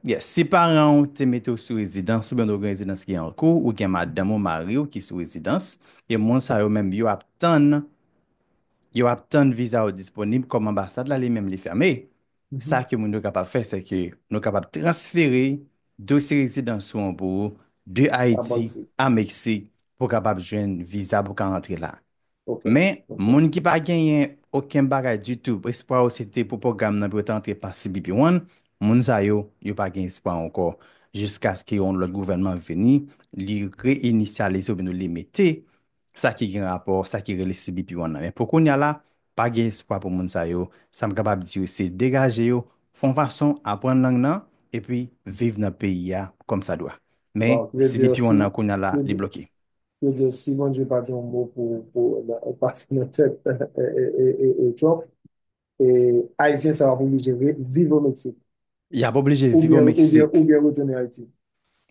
Yes, si paran w te mete w sou rezidans oubyen w gen rezidans ki an kou, ou gen madanm ou mari w ki sou rezidans, e moun sa yo menm yo ap tann yo ap tann viza yo disponib kòm anbasad la li menm li fèmen, sa ke moun yo kapab fè se ke nou kapab transfere dosye rezidans ou an pou ou de Ayiti a Meksik pou w kapab jwenn viza pou w ka rantre la. Men, moun ki pa genyen oken bagay ditou, espwa yo se te pou pwogram nan pou yo ta antre pa CBP One, moun sa yo, yo pa gen espwa ankò jiskaske yon lòt gouvènman vini, li re-inisyalize oubyen nou li mete sa ki gen rapò, sa ki rele CBP One nan. Men pou kounya la, pa gen espwa pou moun sa yo. Sa m kapab di yo se degaje yo, fon fason, aprann lang nan, epi viv nan peyi a kòmsadwa. Men, CBP One nan kounya la, li bloke. Yo di si Bondye pa gen yon mo pou pou ou pati nan tèt e Trump e ayisyen sa yo ap oblije viv o Meksik. Y ap oblije viv o Meksik. Oubyen retounen Ayiti.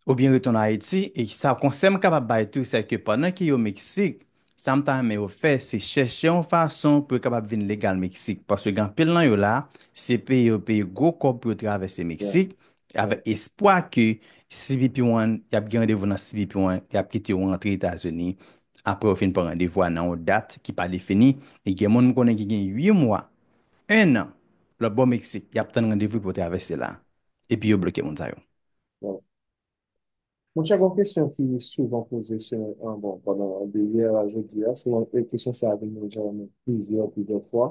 Oubyen retounen Ayiti e sa konsèy m kapab bay tou se ke pandan ke yo Meksik sa m ta renmen yo fè se chèche yon fason pou yo kapab vin legal Meksik paske gen anpil nan yo la se peye yo peye gwo kòb pou yo travèse Meksik avèk espwa ke cbp One, y ap gen randevou nan cbp One, y ap kite ou antre Etazini apre ou fin pran randevou a nan yon dat ki pa defini. E gen moun m konnen ki gen 8 mwa, 1 an, lòtbò Meksik, y ap tann randevou pou yo travèse la. Epi yo bloke moun sa yo. Bon. Monchè, gon kesyon ki souvan poze se, bon, pandan, de yè a jodi a, souvan kesyon sa a vin rejannen plizyè, plizyè fwa.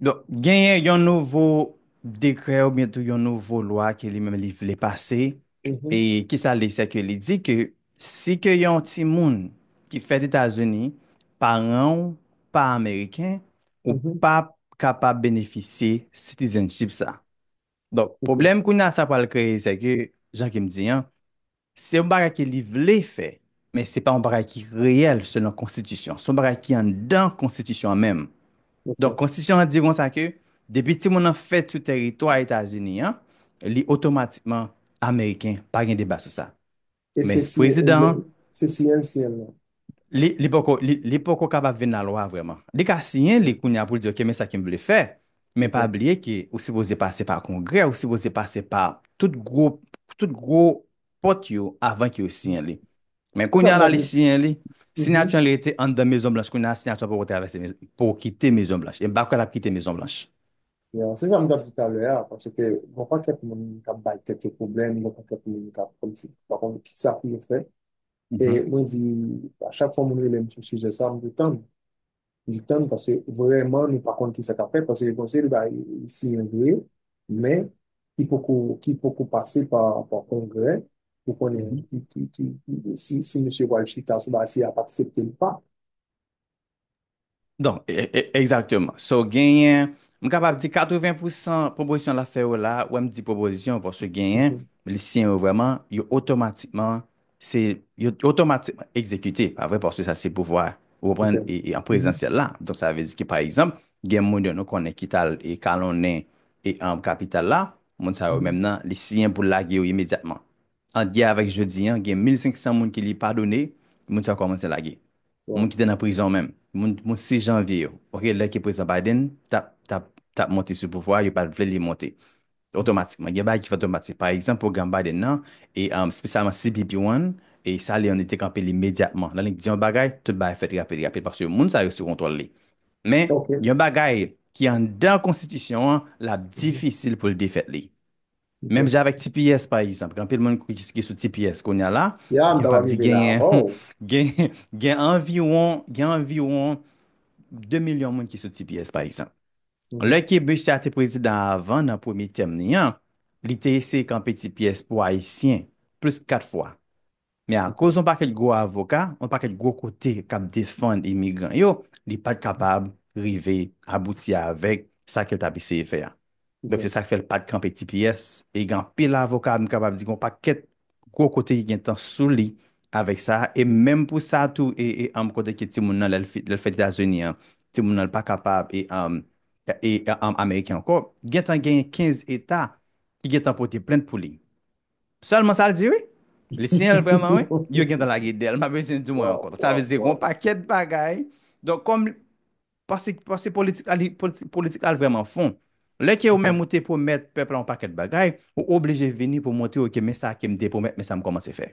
Donk, genyen yon nouvo dekrè oubyen tou yon nouvo lwa ke li menm li vle pase, e ki sa l di? Se ke li di ke si ke yon timoun ki fèt Etazini, paran ou pa ameriken, ou pa kapab benefisye citizenship sa. Donk, pwoblèm kounye a sa pral kreye se ke, jan ke m di an, Se yon bagay ke li vle fè, men se pa yon bagay ki reyèl selon konstitisyon. Se yon bagay ki anndan konstitisyon an menm. Donk, konstitisyon an di konsa ke depi timoun nan fèt sou tèritwa Etazini an, li otomatikman ameriken, pa gen deba sou sa. Men prezidan an. Se si èl si èl non. Li poko, li poko kapab vin lalwa vrèman. Li ka siyen li kounye a pou l di ok men sa ke m vle fè, men pa bliye ke ou sipoze pase pa kongrè, ou sipoze pase pa tout gwo, tout gwo pòt yo avan ke yo siyen li. Men kounye a la li siyen li, siyati an li rete anndan Mezon Blanch kounye a, siyati an poko travèse, poko kite Mezon Blanch. E m pa kwè l ap kite Mezon Blanch. Ya, se sa m t ap di talè a, paske gon pakèt moun k ap bay tèt yo pwoblèm, gon pakèt moun k ap kòmsi pa konn kisa pou yo fè. E mwen di, a chak fwa moun rele m sou sijè sa, m di tann. M di tann paske vrèman nou pa konn ki sa k ap fèt paske gen yon seri de bagay ki siyen vre men ki poko ki poko pase pa pa kongrè pou konnen ki ki ki si si mesye yo pral chita sou bagay si y ap aksepte l ou pa. Donk, egzakteman. So, genyen, m kapab di 80 pou 100 pwopozisyon l ap fè yo la, wè m di pwopozisyon paske genyen, li siyen yo vrèman, yo otomatikman, se, yo otomatikman egzekite, pa vre, paske sa se pouvwa, ou konprann, e an prezansyèl la. Donk sa vle di ke pa egzanp, gen moun yo nou konnen ki t al e kalonnen e an kapital la, moun sa yo menm nan, li siyen pou l lage yo imedyatman. Ant yè avèk jodi an, gen 1500 moun ki li padone, moun sa yo kòmanse lage. Moun ki te nan prizon menm, moun 6 janvye yo, ok, lè ke Prezidan Biden tap monte sou pouvwa, yo pat vle li monte. Otomatikman, gen bagay ki fè otomatik. Pa egzanp, pwogram Biden nan, e spesyalman CBP One, e sa li an, li te kanpe li imedyatman. Lè li di yon bagay, tout bagay fèt rapid rapid, paske moun sa yo sou kontwòl li. Men, gen yon bagay ki anndan konstitisyon an, lap difisil pou l defèt li. Menm jan avèk tps pa egzanp, gen anpil moun ki sou tps kounya la, epi mpa di genyen, gen anviwon, gen anviwon 2 milyon moun ki sou tps pa egzanp. Lè ke mesye a te prezidan avan nan premye tèm ni an, li te eseye kanpe tps pou ayisyen plis 4 fwa. Men akoz yon pakèt gwo avoka, yon pakèt gwo kote k ap defann imigran yo, li pa t kapab rive abouti avèk sa ke l t ap eseye fè a. Donk se sa k fè l pa t kanpe ti pyès e gen anpil avoka m kapab di gen yon pakèt gwo kote ki gen tan sou li avèk sa a e menm pou sa tou e anm kote ke timoun nan lè l lè l fèt Etazini an timoun nan l pa kapab e anm e anm ameriken ankò gen tan genyen 15 eta ki gen tan pote plent pou li. Selman sa l di wi. Li siyen l vreman wi. Yo gentan lage del. M pa bezwen di mwen ankò. Sa vle di gon pakèt bagay. Donk kòm pase pase politik li politik la vreman fon. Lè ke ou menm ou te pwomèt pèp la yon pakèt bagay, ou oblije vini pou montre yo ke men sa ke m te pwomèt men sa m kòmanse fè.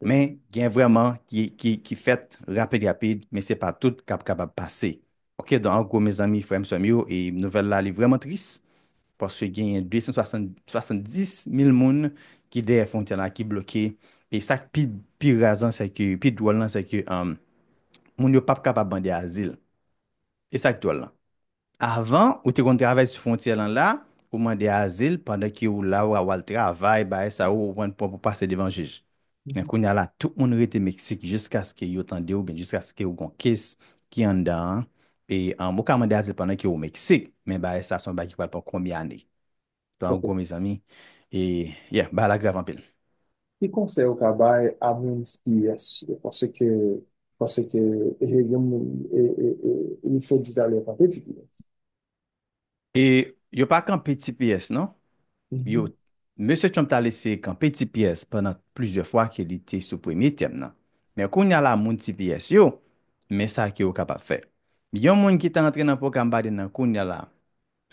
Men gen vreman ki ki fèt rapid rapid men se pa tout k ap kapab pase Ok don angwo mezanmi frèm sèm yo e nouvèl la li vrèman tris paske genyen 270 mil moun ki dèyè fwontyè la ki bloke e sak pi pi raz lan sèke pi dwòl lan sèke moun yo pap kapab mande azil e sak dwòl lan avan ou te konn travèse sou fwontyè lan la ou mande azil pandan ke ou la wal travay bay sa ou konprann pou pase devan jij. Men kounya la tout moun rete Mexique jiskaske yo tande oubyen jiskaske ou gon case ki anndan an e an ou ka mande azil pandan ke ou Mexique men bagay sa se yon bagay ki pral pran konbyen ane. Donk an Ok. gwo mezanmi e yeah bagay la grav anpil. Ki konsèy ou ka bay a moun sps yo paske paske e gen moun e e e li fo di talè pa te di kiyès. E yo pa kanpe tps non. Yo, Mesye Trump t al eseye kanpe tps pandan plizyè fwa ke li te sou premye tèm nan. Men kounye a la moun tps yo, men sa ke yo kapab fè. Yon moun ki ta antre nan pwogram Biden nan kounye a la,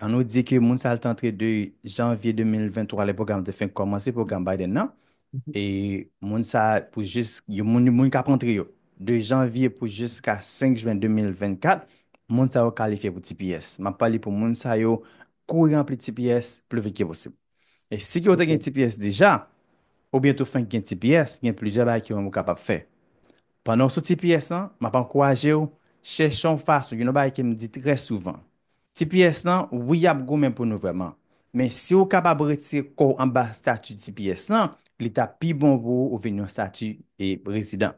an nou di ke moun sa a li t antre de janvye 2023 lè pwogram te fenk kòmanse pwogram Biden nan, e moun sa pou jis yo moun moun kap antre yo de janvye pou jiska 5 jwen 2024 moun sa yo kalifye pou tps map pale pou moun sa yo kouri ranpli tps pli vit ke posib e si ki yo te gen tps deja oubyen tou fenk gen tps gen plizyè bagay ki ou menm ou kapab fè pandan ou sou tps lan map ankourajew chèche yon fason gen yon bagay kem di trè souvan Tps lan wi yap goumen pou nou vrèman men siw kapab retire kòw anba stati tps lan li tap pi bon pou ou vin yon stati rezidan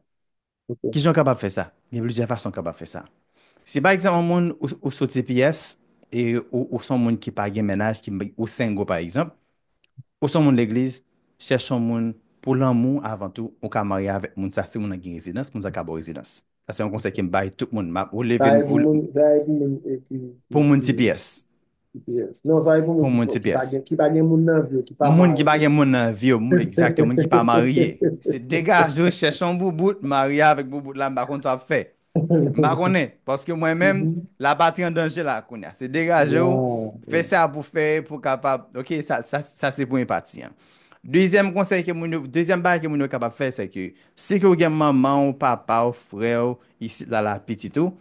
kijan ou kapab fè sa gen plizyè fason ou kapab fè sa si pa egzanp yon moun ou sou tps e ou son moun ki pa gen mennaj ou sengo pa egzanp ou son moun legliz chèche yon moun pou lanmou avan tou ou ka marye avèk moun sa si moun nan gen rezidans moun sa ka baw rezidans. Sa se yon konsèy ke m bay tout moun. M ap ou leve m ou leve m. Sa e pou moun e ki. Pou moun tps. Tps. Non sa e pou moun. Pou moun tps. Ki pa gen moun nan vi yo. Ki pa pa. Moun ki pa gen moun nan vi yo. Moun exact yo. Moun ki pa marye. Se degaj yo chèch yon boubout. Marye avèk boubout la m pa konn sa w ap fè. M pa konnen. Paske mwen menm la patri an danje la kounye a. Se degaje w. Fè sa pou fè pou kapab. Ok sa se premye pati an. Dezyèm konsèy ke moun yo. Dezyèm bagay ke moun yo kapab fè se ke. Si ke w gen manman w, papa w, frè w isit la la pitit ou,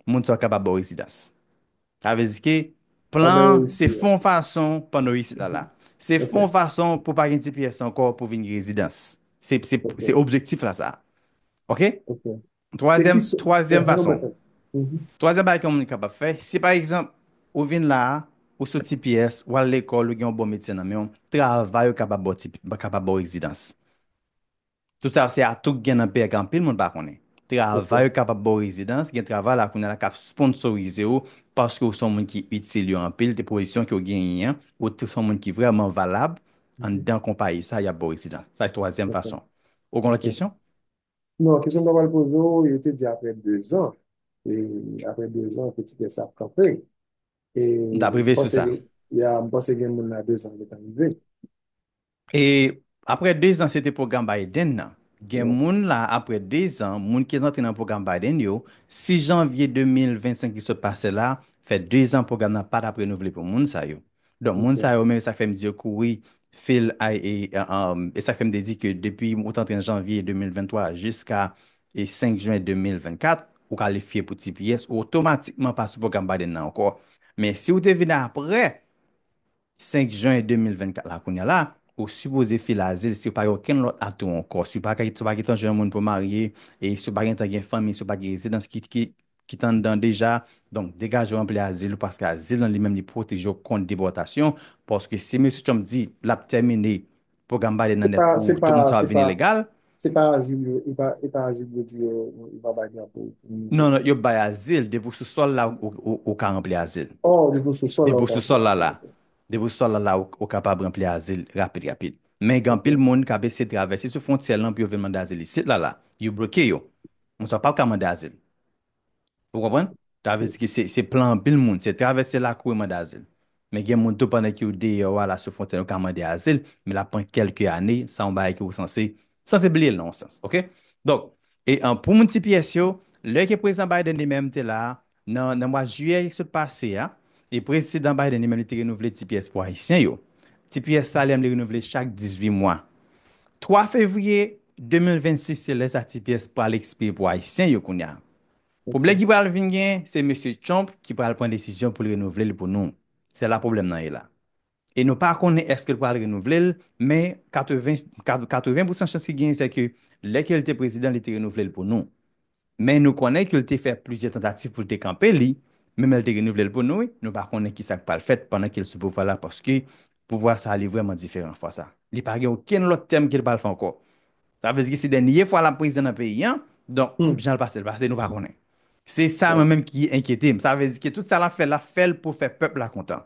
moun sa w kapab ba w rezidans. Sa vle di ke plan an se fon fason pandan w isit la la. Se fon fason pou w pa gen tps ankò pou w vin gen rezidans. Se objektif la sa. Ok? Twazyèm, twazyèm fason. Twazyèm bagay ke yon moun kapab fè, si pa egzanp ou vin la a, ou sou tps, w al lekòl, ou gen yon bon medsen nan men w, travay ou kapab ba w kapab ba w rezidans. Tout sa se atou k gen nan pè k anpil moun pa konnen. Travay yo kapab ba w rezidans, gen travay la kounye a la k ap sponsorize w paske w se yon moun ki itil yo anpil, de pozisyon ke w genyen an, ou se yon moun ki vrèman valab anndan konpayi sa a, y ap ba w rezidans. Sa se twazyèm fason. Ou gen lòt kesyon? Non, kesyon m ta pral poze w, yo te di apre dezan, e apre dezan ke ti kès sa ap kanpe, e m panse, ya, m panse gen moun la dezan gentan rive. E apre 2 zan se te pwogram Biden nan. Gen moun la apre 2 zan, moun ki rantre nan pwogram Biden yo, 6 janvye 2025 ki sot pase la, fè 2 zan pwogram nan pa t ap renouvle pou moun sa yo. Donk moun sa yo menm e sa k fè m di yo kouri fil e sa k fè m te di ke depi ou t antre an janvye 2023 jiska 5 jen 2024, ou kalifye pou tps, ou otomatikman pa sou pwogram Biden nan ankò. Men si ou te vin apre, 5 jen 2024 la kounya la ou sipoze file azil si ou pa gen okenn lòt atou ankò si ou pa si ou pa gentan jwenn moun pou w marye e si ou pa gentan gen fanmi si ou pa gen rezidans ki ki ki t anndan deja donk degaje w ranpli azil ou paske azil lan li menm li pwoteje w kont depòtasyon paske si mesye Trump di l ap tèmine pwogram Biden nan nèt pou tout moun sa ap vini legal. Se pa azil yo, e pa, e pa azil yo di yo, yo pa bay drapo pou moun yo. Non, non, yo bay azil, depi w sou sòl la ou, ou, ou ka ranpli azil. Oh, depi w sou sòl la ou ka ranpli azil. Depi w sou sòl la la. Depi w sou sòl la la ou, ou kapab ranpli azil rapid rapid. Men gen anpil moun k ap eseye travèse sou fwontyè lan pou yo vin mande azil isit la la. Yo bloke yo. Moun sa yo pap ka mande azil. Ou konprann? Sa vle di ke se plan anpil moun. Se travèse lakou e mande azil. Men gen moun tou pandan ke yo deyò a la sou fwontyè yo ka mande azil, men l ap pran kèlke ane, sa yon bagay ke ou sanse, sanse bliye l nan yon sans. Ok? Donk, e pou moun tps yo, lè ke Prezidan Biden li menm te la a, nan nan mwa jiyè ki sot pase a, e Prezidan Biden li menm li te renouvle tps pou Ayisyen yo. Tps sa li menm li renouvle chak 18 mwa. 3 fevriye, 2026 se lè sa ti pyès pral ekspire pou ayisyen yo kounya pwoblè ki pral vin gen se mesye Trump ki pral pran desizyon poul renouvlel pou nou se la pwoblèm nan ye la e nou pa konnen eskel pral renouvlel men 80 80 pousan chans ki genyen se ke lè kel te prezidan li te renouvlel pou nou Men nou konnen ke l te fè plizyè tantativ pou l te kanpe li, menm lè l te renouvle l pou nou, nou pa konnen ki sa k pral fèt pandan ke l sou pouvwa la paske pouvwa sa a li vrèman diferan fwa sa. Li pa gen okenn lòt tèm ke l pral fè ankò. Sa vle di ke se dènye fwa l ap prezidan nan peyi an, donk jan l pase l pase nou pa konnen. Se sa mwen menm ki enkyete m. Sa vle di ke tout sa l ap fè l ap fè l pou fè pèp la kontan.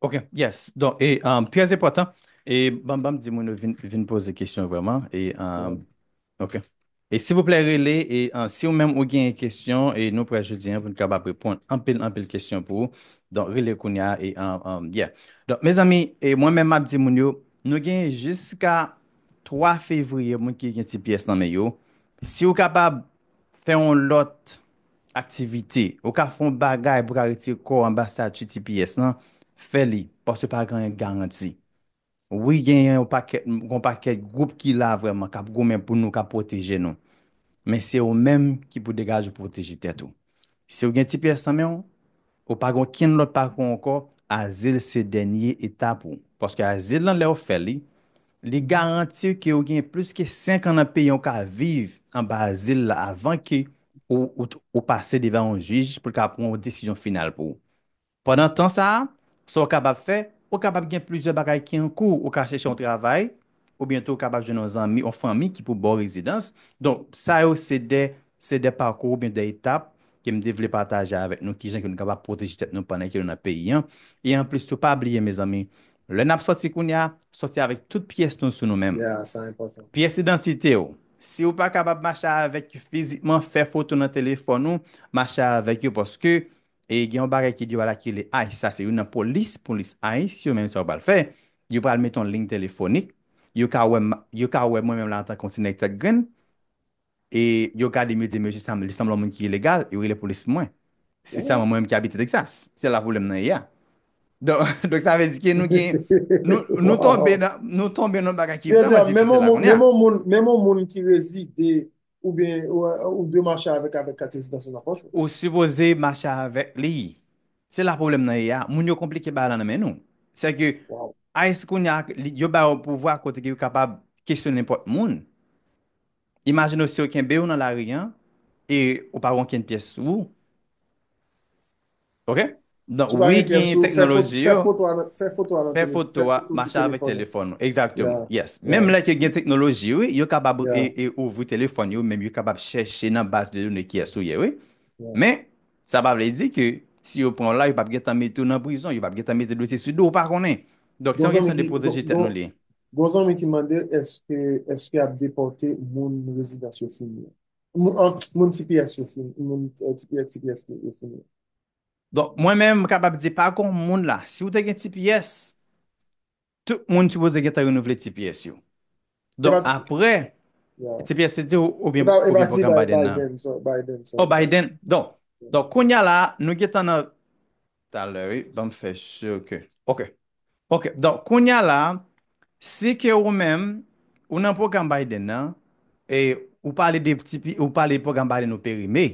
Ok yes don e trè enpòtan e banm banm di moun yo vin vin poze kesyon vreman e ok e silvouplè rele e si ou menm ou gen yon kesyon e nou prè jodi an pou nou kapab reponn anpil anpil kesyon pou ou don rele kounya e yeah don mezanmi e mwen menm map di moun yo nou gen jiska 3 fevriye moun ki gen ti pyès nan men yo si ou kapab fè yon lòt. Aktivite, Ou ka fè yon bagay pou w ka retire kò w anba stati tps lan, fè li, paske pa gen anyen garanti. Wi gen yon pakèt gen yon pakèt gwoup ki la vrèman k ap goumen pou nou k ap pwoteje nou. Men se ou menm ki pou degaje w pwoteje tèt ou. Si w gen tps nan men w, Ou pa gen okenn lòt pakou ankò, azil se dènye etap ou. Paske azil lan lèw fèl li, li garantiw ke ou gen plis ke 5 an nan peyi an ou ka viv anba azil la avan ke ou pase devan yon jij poul ka pran yon desizyon final pou ou. Pandan tan sa a, sa ou kapab fè, ou kapab gen plizyè bagay ki ankou, ou ka chèche yon travay, oubyen tou ou kapab jwenn yon zanmi, yon fanmi ki pou ba w rezidans. Donk, sa yo se de, se de pakou oubyen de etap ke m te vle pataje avèk nou kijan ke nou kapab pwoteje tèt nou pandan ke nou nan peyi an. E anplis tou, pa bliye mezanmi, lè n ap sòti kounye a, sòti avèk tout pyès nou sou nou menm. Pyès idantite w, si ou pa kapab mache avèk yo fizikman, fè foto nan telefòn ou, mache avèk yo paske e gen yon bagay ki di yo pral akile ice sa se youn nan polis polis ice yo men sa yo pral fè yo pral mete yon lign telefonik yo ka wè m yo ka wè mwen menm la antanke yon ti nèg tèt grenn e yo gade m yo di mesye sa li sanble yon moun ki ilegal yo rele polis pou mwen spesyalman mwen menm ki abite Texas se la pwoblèm nan ye a don donk sa vle di ke nou gen nou nou tonbe nan nou tonbe nan yon bagay ki vrèman difisil la kounye a menm yon moun menm yon moun menm yon moun ki rezide Ou byen ou dwe mache avèk avèk kat rezidans ou nan pòch ou. Ou sipoze mache avèk li. Se la pwoblèm nan ye a. Moun yo konplike bagay lan nan men nou. Se ke ice kounya yo ba yo pouvwa kote ke yo kapab kesyon nenpòt moun. Imajine w si yo kenbe w nan lari an e ou pa gen okenn pyès sou ou. Ok Donk wi genyen teknoloji yo. Fè foto a nan telefòn. Fè foto a mache avèk telefòn ou. Egzakteman. Yes. Menm lè ke gen teknoloji wi, yo kapab ouvri telefòn yo menm yo kapab chèche nan baz de done kiyès ou ye wi. Men, sa pa vle di ke si yo pran w la yo pap gentan mete w nan prizon, yo pap gentan mete dosye sou do w, ou pa konnen. Donk se yon kesyon de pwoteje tèt nou li. Gon zanmi ki mande èske yap depòte moun rezidans yo fini an? Moun tps yo fini. Moun tps, tps yo fini. Donk, mwen menm m kapab di pa gon moun la, si ou te gen tps, tout moun sipoze gentan renouvle tps yo. Donk aprè, tps se diw oubyen pwogram Biden nan? Biden, sorry, Biden, sorry. Oh Biden, donk, donk kounya la, nou gentan nan Talè wi banm fè sur ke. Ok ok donk kounya la si ke ou menm ou nan pwogram Biden nan e ou pale de ti pi ou pale pwogram Biden ou perime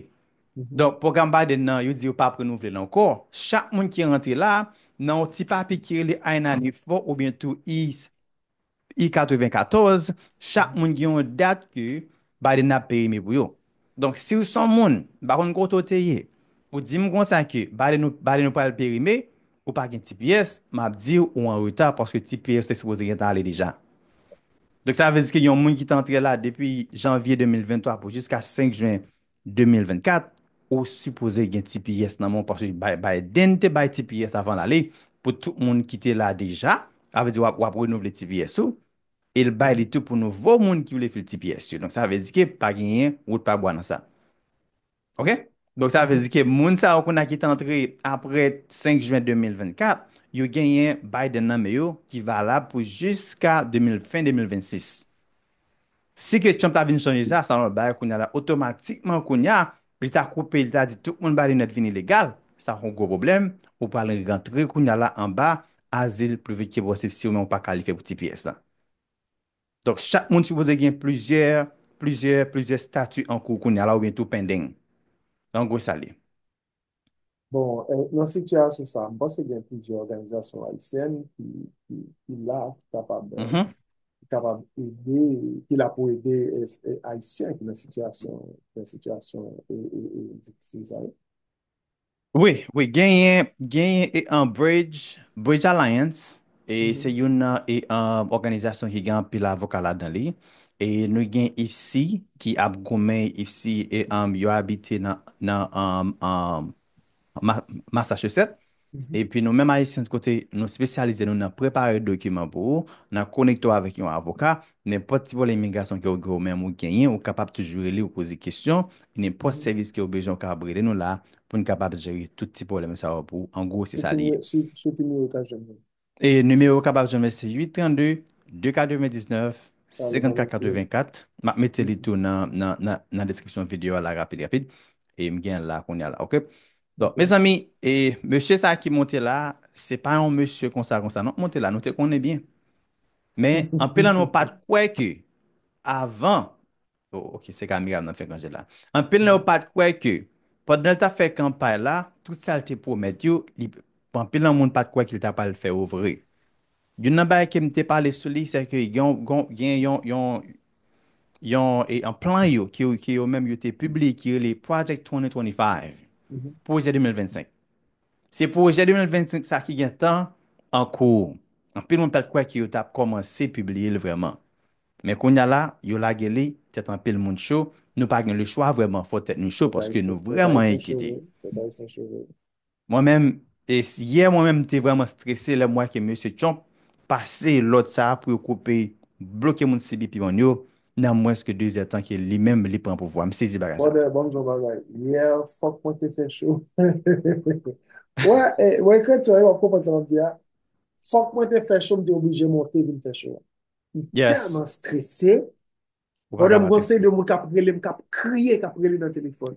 donk pwogram Biden nan yo di yo pap renouvle l ankò chak moun ki rantre la nan yon ti papye ki rele I-94 oubyen tou i I 94, chak moun gen yon dat ke Biden ap perime pou yo. Donk si w son moun, m pa konn kote w te ye, ou di m konsa ke Biden ou Biden ou pral perime, ou pa gen tps, m ap di w ou an reta paske tps ou te sipoze gentan ale deja. Donk sa vle di ke gen yon moun ki te antre la depi janvye 2023 pou jiska 5 jen 2024 ou sipoze gen tps nan men w paske Biden te bay tps avan l ale pou tout moun ki te la deja sa vle di w ap renouvle tps ou e l bay li tou pou nouvo moun ki vle fil tps yo donk sa vle di ke pa genyen wout pa bwa nan sa ok donk sa vle di ke moun sa yo kounye a ki te antre apre 5 jen 2024 yo genyen Biden nan men yo ki valab pou jiska fen 2026 Si ke Trump ta vin chanje sa, sa nou bay kounya la otomatikman kounya li ta koupe li ta di tout moun bay linèt vini legal, sa yon gwo pwoblèm, ou pral rantre kounya la anba azil pli vit ke posib si ou menm ou pa kalifye pou tps la. Donk chak moun sipoze gen plizyè, plizyè, plizyè stati ankou kounya la oubyen tou pending. An gwo sa li. Bon, nan sitiyasyon sa, m panse gen plizyè òganizasyon ayisyèn ki la, ki kapab, ki kapab ede, ki la pou ede ayisyen ki nan sitiyasyon, ki nan sitiyasyon e, e, e, difisil sa yo. Wi, wi, genyen, genyen e an Bridge, Bridge Alliance. E se youn nan òganizasyon ki gen anpil avoka ladan li. E nou gen IFSI ki ap goumen, IFSI yo abite nan Massachusetts. E pi nou menm Ayisyen kote nou spesyalize nou nan prepare dokiman pou ou, nan konekte ou avèk yon avoka, Nenpòt ti pwoblèm imigrasyon ke ou gen ou menm ou genyen ou kapab toujou rele ou poze kesyon, e nenpòt sèvis ke ou bezwen ou kapab rele nou la pou nou kapab jere tout ti pwoblèm sa yo pou ou, an gwo se sa li ye. Sou ki nimewo yo ka jwenn nou? E nimewo yo kapab jwenn mwen se 832 299 5484, map mete li tou nan nan deskripsyon video a la rapid rapid, e m gen l la kounya la ok. Donk mezanmi e mesye sa ki monte la se pa yon mesye konsa konsa non k monte la nou te konnen byen Men, anpil nan nou pa t kwè ke avan, o, ok, se ka Mira m nan fè granjè la. Anpil nan yo pa t kwè ke pandan l t ap fè kanpay la, tout sa l te pwomèt yo, li, anpil nan moun pa t kwè ke l t apral fè yo vre. Youn nan bagay ke m te pale sou li, sèke gen yon, gon, gen yon, yon, yon, e, yon plan yo, ke, ke yo menm yo te pibliye ki rele Project 2025, Pwojè 2025. Se pwojè 2025 sa ki gen tan an kou. Anpil moun pat kwè ke yo tap kòmanse pibliye l vrèman. Men kounya la, yo lage li, tèt anpil moun cho, nou pa gen le chwa vrèman fò tèt nou cho paske nou vrèman enkyete. Mwen menm, yè mwen menm m te vrèman strese lè m wè ke mesye Trump pase lòd sa pou yo koupe, bloke moun CBP moun yo, nan mwens ke 2 zè tan ke li menm li pran pouvwa. M sezi bagay sa. Brother bon jan bagay. Yeah fok mwen te fè cho. Wè e mwen kretyen wi wap konprann sa map di a. Fok mwen te fè cho m te oblije monte vin fè cho a. M telman strese. Brother m gon seri de moun kap relem kap kriye kap rele nan telefon.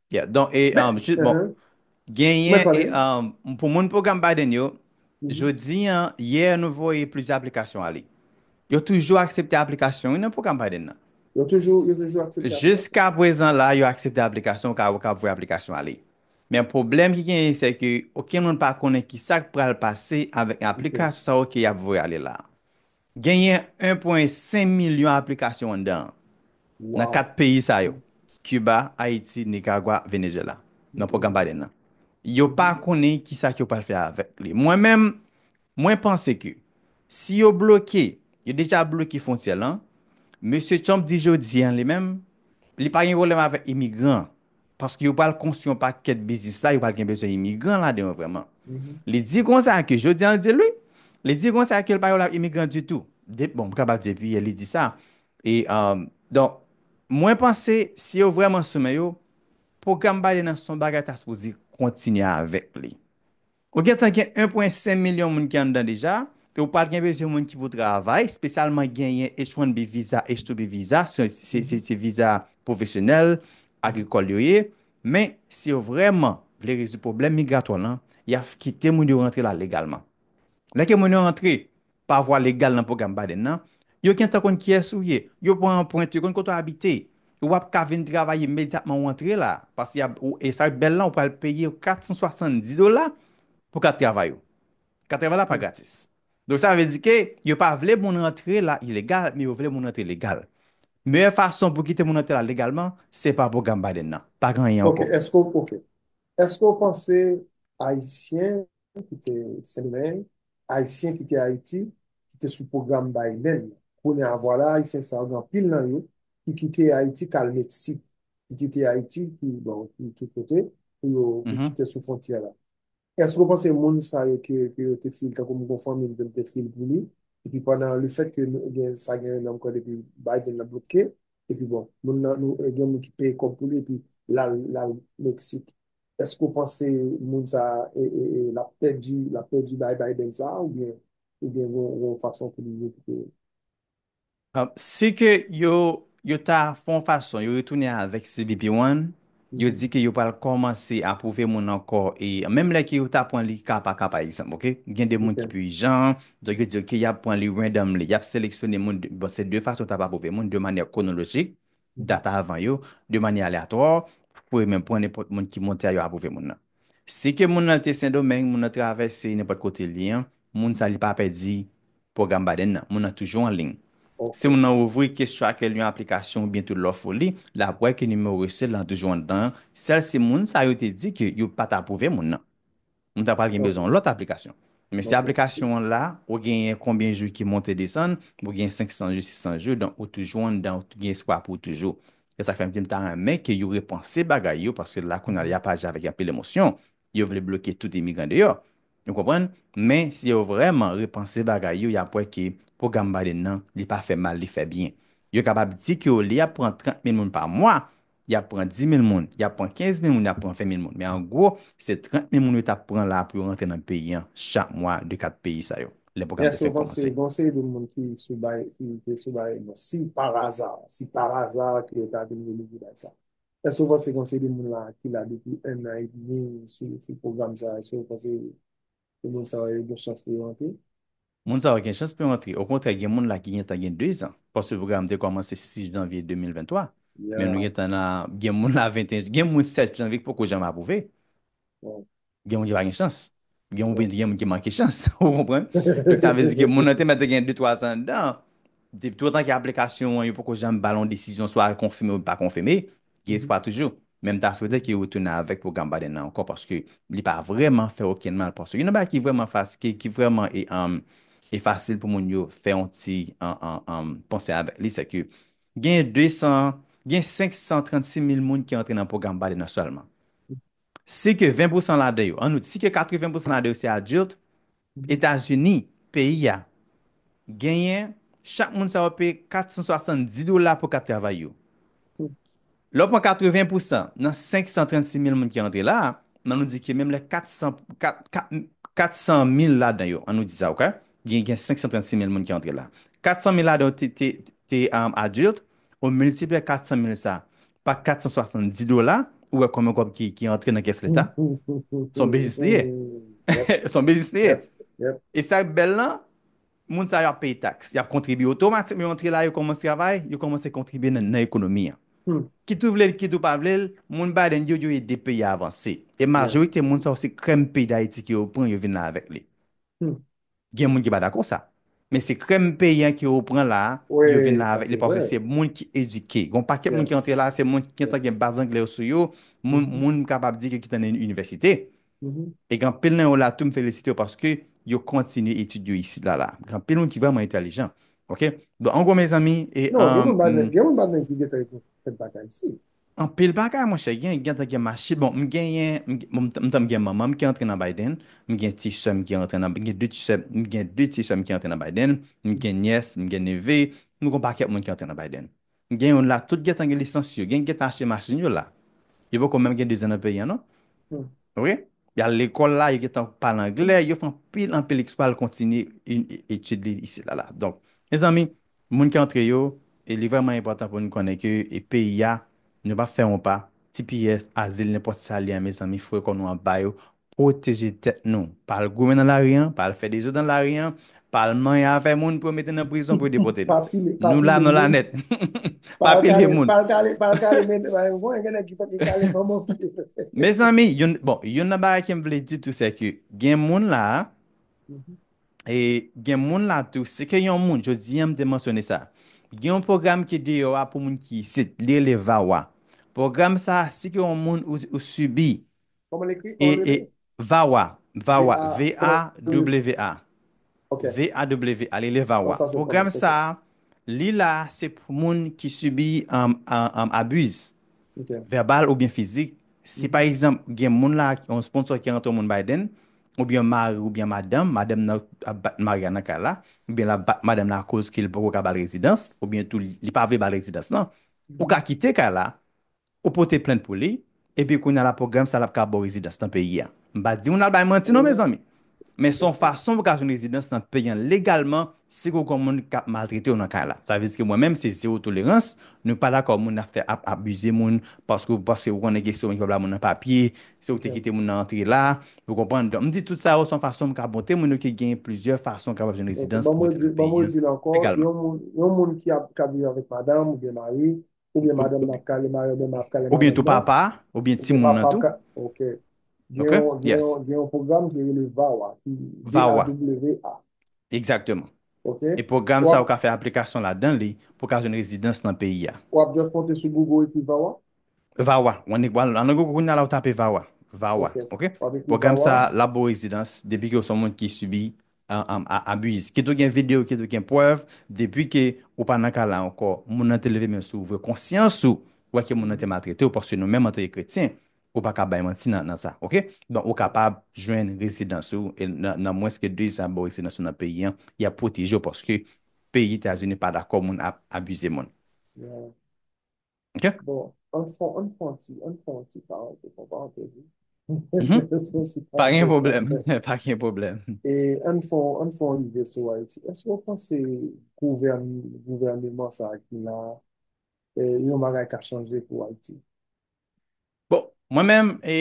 Yeah, don e, Men, um, jis, bon, uh-huh. Mwen genyen e, pale. um, pou moun pwogram Biden yo, Mhm. jodi an, yè nou voye plizyè aplikasyon ale. Yo toujou aksepte aplikasyon wi nan pwogram Biden nan. Yo toujou, yo toujou aksepte aplikasyon. Jiska prezan la, yo aksepte aplikasyon, ou ka, ou ka voye aplikasyon ale. Men pwoblèm ki genyen se ke okenn moun pa konnen ki sa k pral pase avèk Ok. aplikasyon sa yo ke y ap voye ale la. Genyen 1 pwen 5 milyon aplikasyon anndan an, nan 4 peyi sa yo, Kiba, Ayiti, Nikaragwa, Venezyela, nan pwogram Biden nan. Yo pa konnen ki sa ke yo pral fè avèk li. Mwen menm, mwen panse ke si yo bloke, yo deja bloke fwontyè lan, Mesye Trump di jodi an li menm, li pa gen pwoblèm avèk imigran, paske yo pral konstwi yon pakèt biznis la, yo pral gen bezwen imigran ladan yo vrèman. Li di konsa ke, jodi an li di l wi, li di konsa ke l pa wè la imigran ditou. De, bon, m kapab di depi yè li di sa. E, donk, mwen panse si yo vrèman sou men yo, pwogram Biden an se yon bagay ta sipoze kontinye avèk li. Ou gentan gen 1 pwen 5 milyon moun ki anndan deja, e ou pral gen bezwen moun ki pou travay, spesyalman genyen H-1B viza, H-2B viza, se viza pwofesyonèl, agrikòl yo ye, men si yo vrèman vle rezoud pwoblèm migratwa lan, y ap kite moun yo rantre la legalman. Lè ke moun yo rantre, Pa vwa legal nan pwogram Biden nan, yo gen tan konn kiyès ou ye, yo pran anpwent, yo konn kote w abite. W ap ka vin travay imedyatman ou antre la a, paske y ap, e sa k bèl la, ou pral peye 470 dola pou kat travay ou. Kat travay la pa gratis. Donk sa vle di ke yo pa vle moun rantre la ilegal, men yo vle moun rantre legal. Meyè fason pou kite moun rantre la legalman, se pa pwogram Biden nan. Pa gen anyen ankò. Ok, èske w panse Ayisyen ki te Sendomeng, Ayisyen ki te Ayiti, ki te sou pwogram Biden nan. Kounye a, vwala Ayisyen sa yo, gen anpil nan yo, ki kite Ayiti k al Meksik, ki kite Ayiti, ki bon, ki tout kote, pou yo, pou yo kite sou fwontyè la. Èske ou panse moun sa yo ke yo te fil, tankou m gon fanmi m ke m te fil pou li, epi pandan lefètke nou gen sa gen nan m kwè depi Biden nan bloke, epi bon, moun nan nou gen moun ki peye kòb pou li epi l al, l al Meksik. Eske ou panse moun sa lap pèdi lap pèdi bay Biden sa ou byen ou byen gen yon fason pou li rekipere l? Si ke yo yo ta fè yon fason yo retounen avèk CBP one yo di ke yo pral kòmanse apwouve moun ankò e menm lè ke yo ta pran li ka pa ka pa egzanp ok gen de moun ki pi ijan donk yo di ok yap pran li randomly yap seleksyone moun bon se de fason yo tap apwouve moun de manyè kwonolojik data avan yo de manyè aleatwa pou yo menm pran nenpòt moun ki monte a yo apwouve moun nan. Si ke moun nan te Sendomeng, moun nan travèse nenpòt kote li an, moun sa li pa pèdi pwogram Biden nan. Moun nan toujou anliy. Si moun nan ouvri KeysTracker li yon aplikasyon oubyen tou lòf ou li, l ap wè ke nimewo resè l lan toujou anndan an, sèl si moun sa yo te di ke yo pa t apwouve moun nan. Ou ta pral gen bezwen yon lòt aplikasyon. Men si aplikasyon an la, ou genyen konbyen jou ki monte desann, ou gen 500 jou, 600 jou, donk ou toujou anndan, ou gen espwa pou ou toujou. Se sak fè m di m ta renmen ke yo repanse bagay yo, paske la kounye a la y ap aji avèk anpil emosyon. Yo vle bloke tout imigran deyò. Ou konprann? Men si yo vrèman repanse bagay yo, y ap wè ke pwogram Biden nan, li pa fè mal, li fè byen. Yo kapab di ke olye y ap pran 30 mil moun pa mwa, y ap pran 10 mil moun, y ap pran 15 mil moun, y ap pran 20 mil moun. Men an gwo, se 30 mil moun yo t ap pran la pou yo rantre nan peyi an chak mwa de 4 peyi sa yo, lè pwogram te fèk kòmanse. Gen yon seri de moun ki sou bay, ki te sou bay non. Si par aza, si par aza ke yo ta vin renouvle bay sa. Èske ou panse gen yon seri de moun la ki la depi ennan edmi sou pwogram sa, èske ou panse Pou moun sa yo gen chans pou yo antre? Moun sa yo gen chans pou yo antre. Okontrè gen moun la ki gentan gen 2 zan. Paske pwogram te kòmanse 6 janvye 2023. Men nou gentan nan, gen moun la 21, gen moun 7 janvye ki poko janm apwouve. Gen moun ki pa gen chans. Gen oubyen gen moun ki manke chans. Ou konprann? Donk sa vle di ke moun nan te mèt gen 2, 3 zan anndan. Depi toutotan ke aplikasyon an yo poko janm ba l yon desizyon swa l konfime ou l pa konfime, Gen espwa toujou, men m ta swete ke yo tounen avèk pwogram Biden nan ankò paske li pa vrèman fè okenn mal paske youn nan bagay ki vrèman fas ki ki vrèman e fasil pou moun yo fè yon ti panse avèk li se ke gen 200 gen 536 mil moun ki antre nan pwogram Biden nan sèlman si ke 20 pousan ladan yo an nou di si ke 80 pousan ladan yo se adilt Etazini, peyi a, genyen chak moun sa yo peye 470 dola pou kat travay yo. Lè w pran 80 pousan nan 536 mil moun ki rantre la, an nou di ke menm lè 400, 400 mil ladan yo, an nou di sa ok, gen 536 mil moun ki rantre la, 400 mil ladan yo te adilt, ou miltipliye 400 mil sa pa 470 dola ou wè konbyen kòb ki antre nan kès leta son biznis li ye son biznis li ye e sa k bèl lan moun sa yo ap peye taks y ap kontribye otomatik yo antre la yo kòmanse travay yo kòmanse kontribye nan ekonomi an kit ou vle l kit ou pa vle l moun Biden yo yo ede peyi a avanse e majorite moun sa yo se krèm peyi dayiti ke yo pran yo vin la avèk li Gen moun ki pa dakò sa. Men se krèm peyi an ke ou pran la a, yo vin la avèk li paske se moun ki edike. Gon pakèt moun ki antre la a, se moun ki gentan gen baz angle yo sou yo, moun m kapab di ke ki te nan inivèsite. E gen anpil nan yo la tou m felisite yo paske yo kontinye etid yo isit la la. Gen anpil moun ki vrèman entèlijan. Ok? Donk an gwo mezanmi e. Non, gen moun pa gen, gen moun pa gen ki gentan fè bak Ayiti. Anpil bagay monchè gen, gentan gen mache bon m genyen m ta m gen manman m ki antre nan Biden, m gen ti sè m ki antre nan m gen 2 ti sè m gen 2 ti sè m ki antre nan Biden, m gen nyès, m gen neve, m gon pakèt moun ki antre nan Biden. M gen youn la tout gentan gen lisans yo, gen ki gentan achte machin yo la. Yo poko menm gen 2 zan nan peyi an non. Ok Y al lekòl la, yo gen tan pale anglè, yo fè anpil anpil eksplwa pou yo kontinye etid yo isit la la. Donk, mezanmi, moun ki antre yo, li vrèman enpòtan pou nou konnen ke peyi a, nou pa fè yon pa, tps, azil, nenpòt sa li a, mezanmi, foure kò nou anba yo, pwoteje tèt nou. Pa al goumen nan lari an, pa al fè dezòd nan lari an, Palman ya fè moun pou yo mete nan prizon pou yo depote nou. Nou la nou la nèt. Pa pile moun. Pal kale, pal kale men mwen mwen gen nèg ki pap kale fanm anpil. Mezanmi, yon bon, yon nan bagay kem vle di tou se ke gen moun la e gen moun la tou se ke yon moun jodi an m te mansyone sa. Gen yon pwogram ki deyò a pou moun ki isit, li rele VAWA. Pwogram sa si ke yon moun ou sibi E VAWA, VAWA, V-A-W-A, V-A-W-A, li le VAWA. Pwogram sa, li la se pou moun ki sibi abuse, verbal ou byen fizik. Si pa egzanp, gen moun la, yon sponsò ki rantre yon moun Biden, ou byen mari ou byen madanm, madanm nan ap bat mari a nan kay la, ou byen lap bat madanm nan a koz ke li poko ka bal rezidans, ou byen tou li pa vle bal rezidans nan, ou ka kite kay la, Ou pote plent pou li, epi kounya la pwogram sa lap ka baw rezidans nan peyi a. M pa diw nan al bay manti non mezanmi. Men son fason pou ka jwenn rezidans nan peyi an legalman si kou gon moun kap maltretew nan kay la. Sa vle di ke mwen menm se zero tolerans, nou pa dakò moun ap fè ap abize moun paske ou paske ou konnen gen se ou menm ki pa ba moun nan papye, se ou ki te kite moun nan antre la, ou konprann. Donk m di tout sa yo son fason pou ka montre moun yo ke gen plizyè fason kapab jwenn rezidans pou rete nan peyi an legalman. Yon moun ki ap viv avèk madanm oubyen mari, Oubyen madanm nan ap kale mari l oubyen mari ap kale madanm nan. Oubyen tou papa a, oubyen timoun nan tou. Ok. Gen yon pwogram ki rele VAWA. VAWA. V-A-W-A. Ekzakteman. Ok. E pwogram sa ou ka fè aplikasyon ladan li pou ka jwenn rezidans nan peyi a. Ou ap just monte sou Google ou ekri VAWA? VAWA. Ou annik wal nan Google kounya la ou tape VAWA. VAWA. Ok. Pwogram sa la ba ou rezidans depi ke ou son moun ki sibi abuse kit ou gen video kit ou gen prèv depi ke ou pa nan ka la ankò moun nan te leve men sou ou vre konsyans ou wè ke moun nan te maltretew paske nou menm antake kretyen ou pa ka bay manti nan sa ok donk ou kapab jwenn rezidans ou e nan mwens ke 2 zan baw rezidans ou nan peyi an yap pwotejew paske peyi etazini pa dakò moun ap abize moun. Ok. Bon, an fon, an fon ti, an fon ti pa an te, pa an te di. Pa gen problem, pa gen problem. E an fon, an fon rive sou Haiti. Eske ou panse gouvern, gouvernement sa ki la, e, yon bagay ka chanje pou Haiti? Bon, mwen menm, e,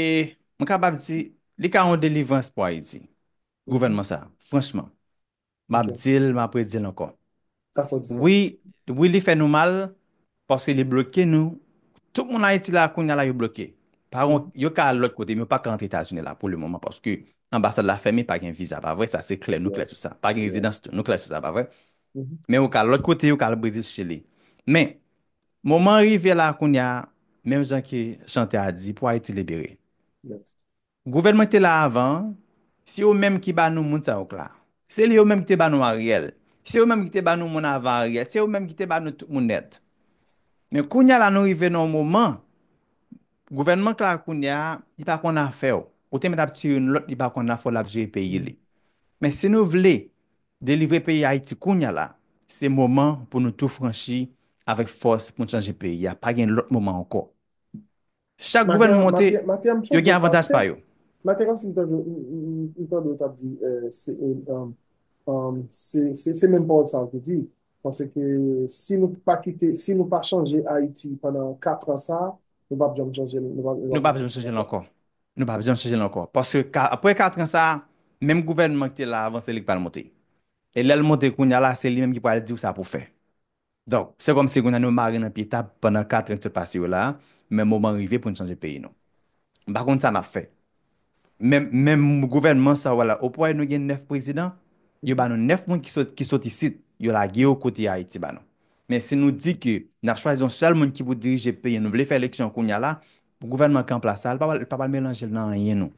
mwen kapab di, li ka yon delivrans pou Haiti, gouvernement sa, franchman. Map dil map redil ankò wi wi li fè nou mal paske li bloke nou tout moun ayiti la kounya la yo bloke pa gon yo ka al lòt kote men yo paka antre etazini la pou le moman paske anbasad la fèmen pa gen viza pa vre sa se klè nou klè sou sa pa gen rezidans tou nou klè sou sa pa vre men yo ka al lòt kote yo ka al brezil chili men moman rive la kounya menm jan ke chantè a di pou ayiti libere Gouvènman ki te la avan an, se yo menm ki ba nou moun sa yo k la. Se yo menm ki te ba nou Ariel. Se yo menm ki te ba nou moun avan Ariel. Se yo menm ki te ba nou tout moun nèt. Men kounye a la nou rive nan yon moman, gouvènman k la kounye a, li pa konn afè w. Ou te mèt ap tiye yon lòt li pa konn afè w l ap jere peyi li. Men si nou vle delivre peyi Ayiti kounye a la, se moman pou nou tou franchi avèk fòs pou nou chanje peyi a. Pa gen lòt moman ankò. Chak gouvènman monte, yo gen avantaj pa yo. Maten kòmsi m tande m tande ou t ap di se menm pawòl sa ou te di paske si nou pa kite si nou pa chanje Ayiti pandan 4 an sa nou p ap janm chanje l nou p ap janm chanje l ankò nou p ap janm chanje l ankò paske apre 4 an sa menm gouvènman ki te la avan se li k pral monte e lè l monte kounya la se li menm ki pral di w sa pou w fè Donk, se kòm si kounya nou mare nan pye tab pandan katran ki sot pase yo la a, men moman an rive pou n chanje peyi nou. M pa konn sa n ap fè. Men, menm gouvènman sa a w la, ou pa wè nou gen 9 prezidan? Yo ba nou 9 moun ki sot, ki sot isit, yo lage yo kote Ayiti ba nou. Men si nou di ke n ap chwazi yon sèl moun ki pou dirije peyi an, nou vle fè eleksyon kounya la, gouvènman ki an plas la a, li pa pral, li pa pral melanje l nan anyen nou.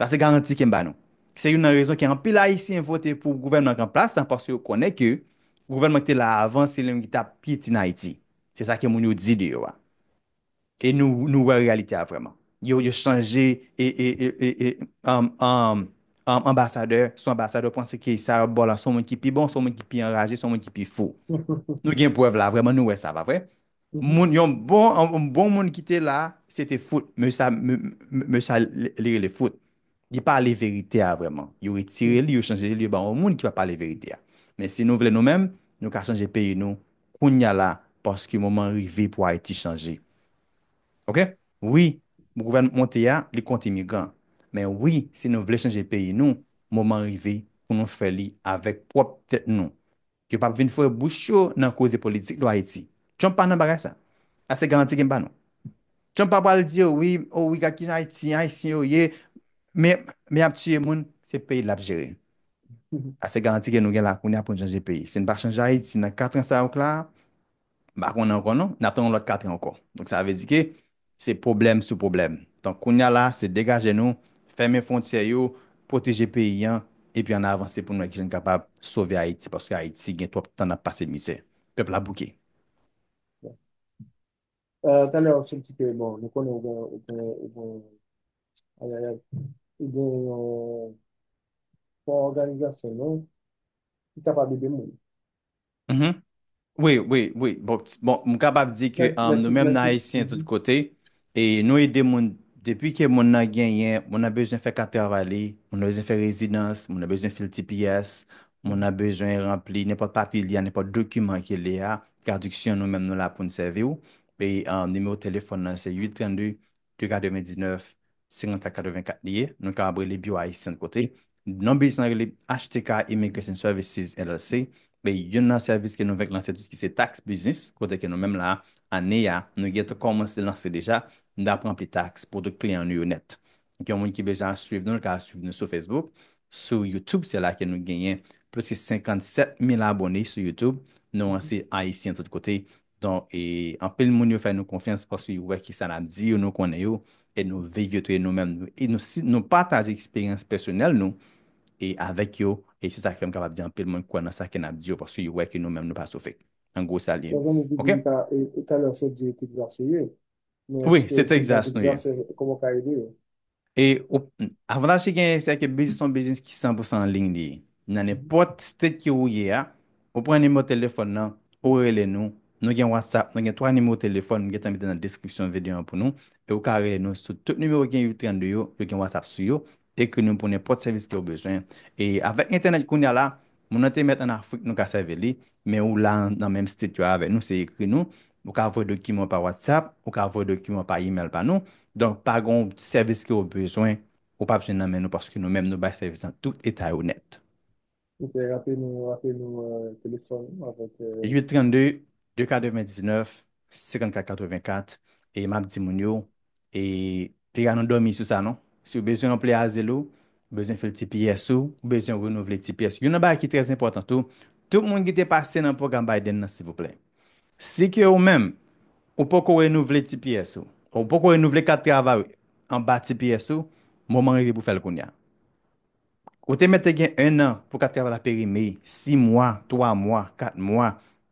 Sa se garanti ke m ba nou. Se youn nan rezon ke anpil Ayisyen vote pou gouvènman k anplas la paske yo konnen ke gouvènman ki te la avan se lion ki ta pyeti n Ayiti. Se sa ke moun yo di de yo a. E nou nou wè reyalite a vrèman. Yo yo chanje e e e e anbasadè sou anbasadè yo panse ke sa yo bo la son moun ki pi bon, son moun ki pi anraje, son moun ki pi fou. Nou gen prèv la vrèman nou wè sa pa vre? Moun yon bon yon bon moun ki te la, se te fout. Mesye sa mesye sa li rele fout. Li pa ale verite a vrèman. Yo retire li, yo chanje li, yo ban yon moun ki pa pale verite a. Men si nou vle nou menm, nou ka chanje peyi nou kounya la paske moman an rive pou Ayiti chanje. Ok? Wi, gouvènman k monte a, li kont imigran. Men wi, si nou vle chanje peyi nou, moman an rive pou nou fè li avèk pwòp tèt nou. Yo pap vin foure bouch yo nan koze politik lwa Ayiti. Trump pa nan bagay sa. A se garanti ke m ba nou. Trump pa pral di yo wi, o wi gad kijan Ayiti, Ayisyen yo ye, men men ap tiye moun, se peyi l lap jere. A se garanti ke nou gen la kounya pou n chanje peyi. Si n pa chanje Ayiti nan katran sa yo k la a, M pa konnen ankò non, n ap tann yon lòt katran ankò. Donk sa vle di ke se pwoblèm sou pwoblèm. Donk kounye a la, se degaje nou, fèmen fwontyè yo, pwoteje peyi an, epi ann avanse pou nou wè kijan n kapab sove Ayiti, paske Ayiti gen twòp tan n ap pase mizè. Pèp la bouke. Talè ou sot di ke bon, nou konnen ou gen, ou gen, ou gen, ayayay, ou gen yon fon òganizasyon nou ki kapab ede moun. Mh wi wi wi bon bon m kapab di ke nou menm nan ayisyen tout kote e nou ede moun depi ke moun nan genyen moun nan bezwen fè kat travay li moun nan bezwen fè rezidans moun nan bezwen fil tps moun nan bezwen ranpli nenpòt papye li a nenpòt dokiman ke li a tradiksyon nou menm nou la pou n sèvi w e nimewo telefòn nan se 8 32 de 99, 50 ak 84 li ye, nou kapab rele Biwo Ayisyen kote. Non biznis lan rele HTK Immigration Services LLC, e youn nan sèvis ke nou fèk lanse tou ki se tax biznis, kote ke nou menm la, ane a, nou gen tan kòmanse lanse deja, nou ap ranpli tax pou tout kliyan nou yo nèt. Donk yon moun ki bezwen al swiv nou, li ka al swiv nou sou Facebook, sou YouTube, se la ke nou genyen plis ke 57 mil abone sou YouTube, nou an se Ayisyen tout kote, Don e anpil moun yo fè nou konfyans paske yo wè kisa nap di yo nou konnen yo e nou viv yo touyè nou menm nou e nou si nou pataje eksperyans pèsonèl nou e avèk yo e se sak fèm kapab di anpil moun kwè nan sa ke nap di yo paske yo wè ke nou menm nou pa sou fek an gwo sa liye ok. Sa zanmi di m sa e talè w sot di e Texas yo ye Men eske se Texas nou ye. Kòman w ka ede yo? E avantaj ki genyen se ke biznis son biznis ki 100% an liy li ye. Nan nenpòt state ke ou ye a, ou pran nimewo telefòn nan, ou rele nou, nou gen WhatsApp, nou gen 3 nimewo telefòn m gentan mete nan deskripsyon videyo an pou nou, e ou ka rele nou sou tout nimewo ki gen 832 yo, yo gen WhatsApp sou yo, Ekri nou pou nenpòt sèvis kew bezwen. E avèk entènèt kounya la, moun nan te mèt an Afrik nou ka sèvi li, men ou la nan menm state yo avè nou se ekri nou, ou ka voye dokiman pa WhatsApp, ou ka voye dokiman pa email pa nou, donk pa gon sèvis kew bezwen ou pap jwenn nan men nou paske nou menm nou bay sèvis nan tout eta yo nèt. Ok rape nou rape nou telefòn ou avèk. 8 32 2 99 54 84 e map di moun yo e piga nou dòmi sou sa non siw bezwen ranpli azil ou bezwen fil tps ou ou bezwen renouvle tps ou youn nan bagay ki trè enpòtan tou tout moun ki te pase nan pwogram Biden nan silvouplè si ke ou menm ou poko renouvle tps ou ou poko renouvle kat travay ou anba tps ou moman rive pou fèl kounya. Ou te mèt te gen 1 an pou kat travay la perime, 6 mwa, 3 mwa, 4 mwa,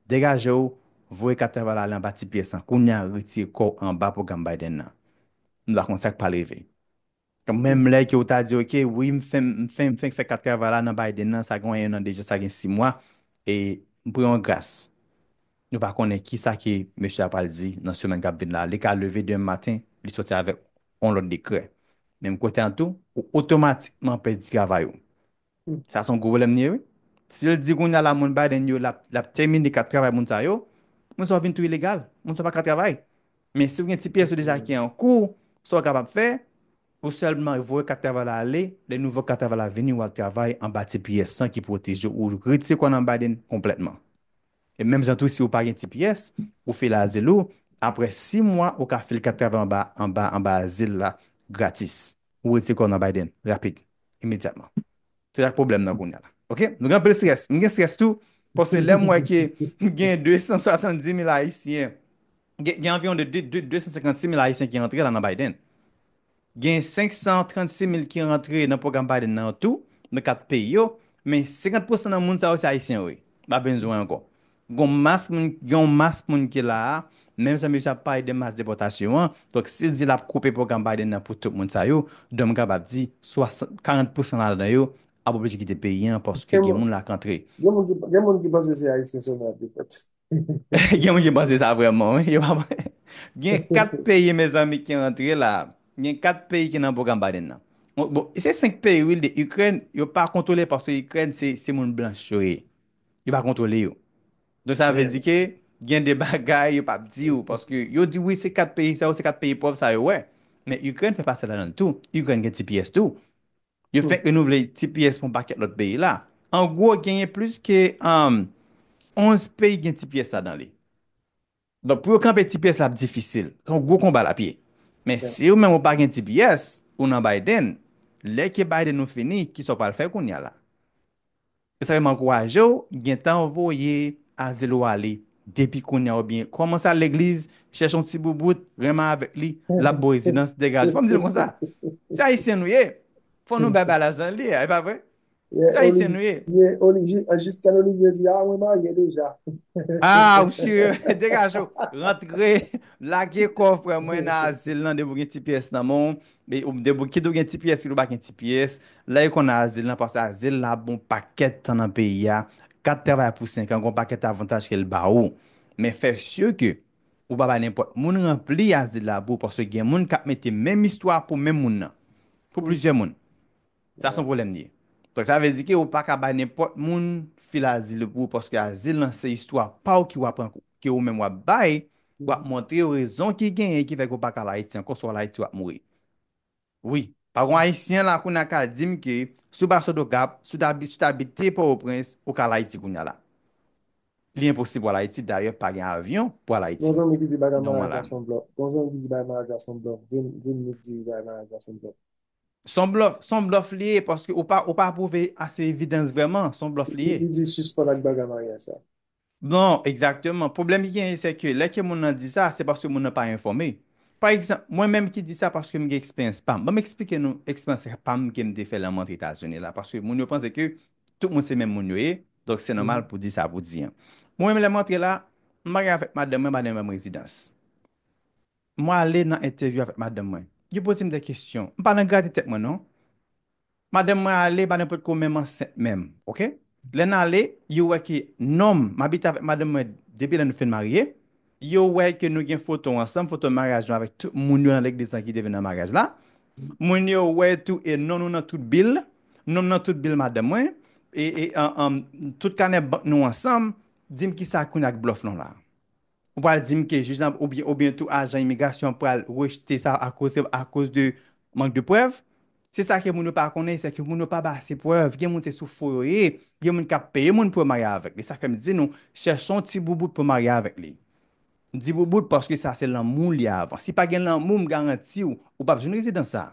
degaje w, voye kat travay la ale anba ti pyès lan, kounye a retire kò w anba pwogram Biden nan. Nou ta konn sa k pral rive. Menm lè ke ou ta di ok wi m fenk m fenk m fenk fè kat travay la nan Biden nan, sa gen 1 an deja, sa gen 6 mwa, e m pran yon gras. Nou pa konnen kisa ke mesye a pral di nan semèn k ap vin la. Li ka leve demen maten, li sòti avèk yon lòt dekrè. Menm kote an tou, ou otomatikman pèdi travay ou. Sa son gwo pwoblèm li ye wi. Si l di kounya la moun Biden yo l ap tèmine kat travay moun sa yo, moun sa yo vin tou ilegal, moun sa yo pa ka travay. Men si ou gen ti pyès ou deja ki an kou, sa ou kapab fè, ou sèlman voye kat travay la ale, lè nouvo kat travay la vini ou al travay anba ti pyès lan ki pwoteje ou, ou retire kò nan Biden konplètman. E menm jan tou si ou pa gen ti pyès, ou fè l azil ou, aprè 6 mwa ou ka fil kat travay anba anba anba azil la gratis. Ou retire kò w nan Biden rapid, imedyatman. Se sak pwoblèm nan kounya la. Ok? Nou gen anpil strès. M gen strès tou, paske lè m wè ke gen 270 mil ayisyen, gen anviwon de 256 mil ayisyen ki antre la nan Biden. Gen 536 mil ki rantre nan pwogram Biden nan an tou, nan 4 peyi yo, men 50 pousan nan moun sa yo se Ayisyen yo ye. Pa benzwen ankò. Gen yon mas moun, gen yon mas moun ki la a, menm sa mesye a ap pale de mas depòtasyon an, donk si l di l ap koupe pwogram Biden nan pou tout moun sa yo, donk m kapab di 60, 40 pousan ladan yo ap oblije kite peyi an paske gen moun la k antre. Gen moun ki panse se Ayisyen sèlman y ap depòte. Gen moun ki panse sa vreman wi. Yo pa panse. Gen 4 peyi mezanmi ki rantre la. Gen 4 peyi ki nan pwogram Biden nan. Bon, bon, se 5 peyi wi de Ukraine, yo pa kontwole paske Ukraine se se moun blanch yo ye. Yo pa kontwole yo. Don sa vle di ke gen de bagay yo pap di ou paske yo di wi se 4 peyi sa yo, se 4 peyi pòv sa yo wè. Men Ukraine fè pati ladan l tou. Ukraine gen tps tou. Yo fèk renouvle tps pou yon pakèt lòt peyi la. An gwo, genyen plis ke 11 peyi gen tps la dan li. Donk, pou yo kanpe tps la ap difisil. Se yon gwo konba l ap ye. Men, si ou menm ou pa gen tps, ou nan Biden, lè ke Biden ou fini, kisa ou pral fè kounya la? Esa fè m ankouraje w gentan voye azil ou ale depi kounya oubyen kòmanse al legliz chèche yon ti boubout renmen avèk li lap bo rezidans degaje fò m di nou konsa se ayisyen nou ye fò nou bay bagay la jan l ye a e pa vre se ayisyen nou ye. Men Olivier jiskèn Olivier di a mwen marye deja. Ah ou sirye degaje w rantre lage kò w frè mwen nan azil lan depi w gen ti pyès nan men w Kit ou gen tps kit ou pa gen tps, lè yo konn azil lan paske azil lan ap bon pakèt tan nan peyi a, kat travay pou 5 an gon pakèt avantaj ke l ba ou. Men fè sure ke ou pa bay nenpòt moun ranpli azil la pou ou paske gen moun kap mete menm istwa pou menm moun nan, pou plizyè moun. Sa son pwoblèm li ye. Donk sa vle di ke ou pa ka bay nenpòt moun fil azil yo pou ou paske azil lan se istwa pa ou ki wap rank ke ou menm wap bay pou wap montre yo rezon ki genyen ki fè ke ou pa ka al Ayiti ankò si w al Ayiti wap mouri. Wi. Pa gon Ayisyen la kounye a ka di m ke si w pa sot Okap, si w ta si w ta abite Pòtoprens ou ka al Ayiti kounye a la. Li enposib pou al Ayiti dayè pa gen avyon pou al Ayiti. Gon zanmi ki di bagay maraj la son blòf. Gon zanmi ki di bagay maraj la son blòf. Vin vin nou k di bagay maraj la son blòf. Son blòf, son blòf li ye paske ou pa ou pa pwouve ase evidans vrèman, son blòf li Epi ye. li di sispann ak bagay maryaj sa. Non, egzakteman. Pwoblèm ki genyen se ke lè ke moun nan di sa, se paske moun nan pa enfòme. Pa egzanp, mwen menm ki di sa paske m gen eksperyans pa m. Ban m eksplike nou eksperyans pa m ke m te fè lè m antre Etazini la paske moun yo panse ke tout moun se menm moun yo ye, donk se nòmal pou di sa pou di an. Mwen menm lè m antre la, m marye avèk madanm mwen, madanm mwen ba m rezidans. Mwen ale nan entèvyou avèk madanm mwen. Yo poze m de kesyon. M pa nan grate tèt mwen non. Madanm mwen ale pa nenpòt ko menm ansent menm. Ok. Lè n ale, yo wè ke nonm, m abite avèk madanm mwen depi lè nou fin marye. Yo wè ke nou gen foto ansanm, foto maryaj nou avèk tout moun yo nan legliz lan ki te vin nan maryaj la. Moun yo wè tou e non nou nan tout bil. Non m nan tout bil madanm mwen. E, e, an, an, tout kanè bank nou ansanm. Di m kisa kounye a ak blòf lan la? Ou pral dim ke jij lan oubyen oubyen tou ajan imigrasyon an pral rejte sa akoz se akoz de mank de prèv. Se sa ke moun yo pa konnen, se ke moun yo pa bay ase prèv. Gen moun se sou fo yo ye. Gen moun kap peye moun pou yo marye avèk li. Sa fèm di nou, chèchon ti boubout pou marye avèk li. M di boubout paske sa se lanmou li avan. Si pa gen lanmou m garantiw ou pap jwenn rezidans sa.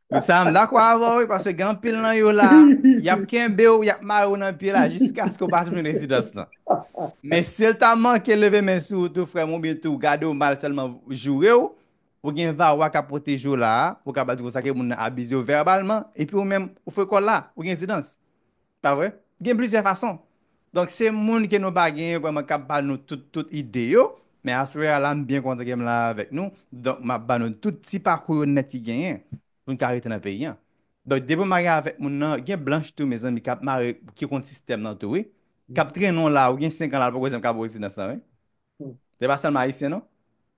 Pou sa m dakò avè w wi, paske gen anpil nan yo la, y ap kenbe w, y ap mare w nan pye la jiskaske w pa jwenn rezidans lan. Men si l ta manke leve men sou ou tou frè m oubyen tou gade w mal sèlman joure w, ou gen VAWA k ap pwoteje w la a, ou kapab di konsa ke moun nan abize w vèbalman, epi ou menm ou frekò la, ou gen rezidans. Pa vre? Gen plizyè fason. Donk se moun ke nou pa genyen vreman kap ba nou tout tout ide yo, men aswè a la m byen kontan ke m la avèk nou, donk map ba nou tout ti pakou yo nèt ki genyen pou n ka rete nan peyi an. Donk depi w marye avèk moun nan, gen blanch tou mezanmi kap mare ki konn sistèm nan tou wi, kap trennen w la ou gen 5 an la l poko janm ka bo rezidans lan wi. pou. Se pa selman ayisyen non.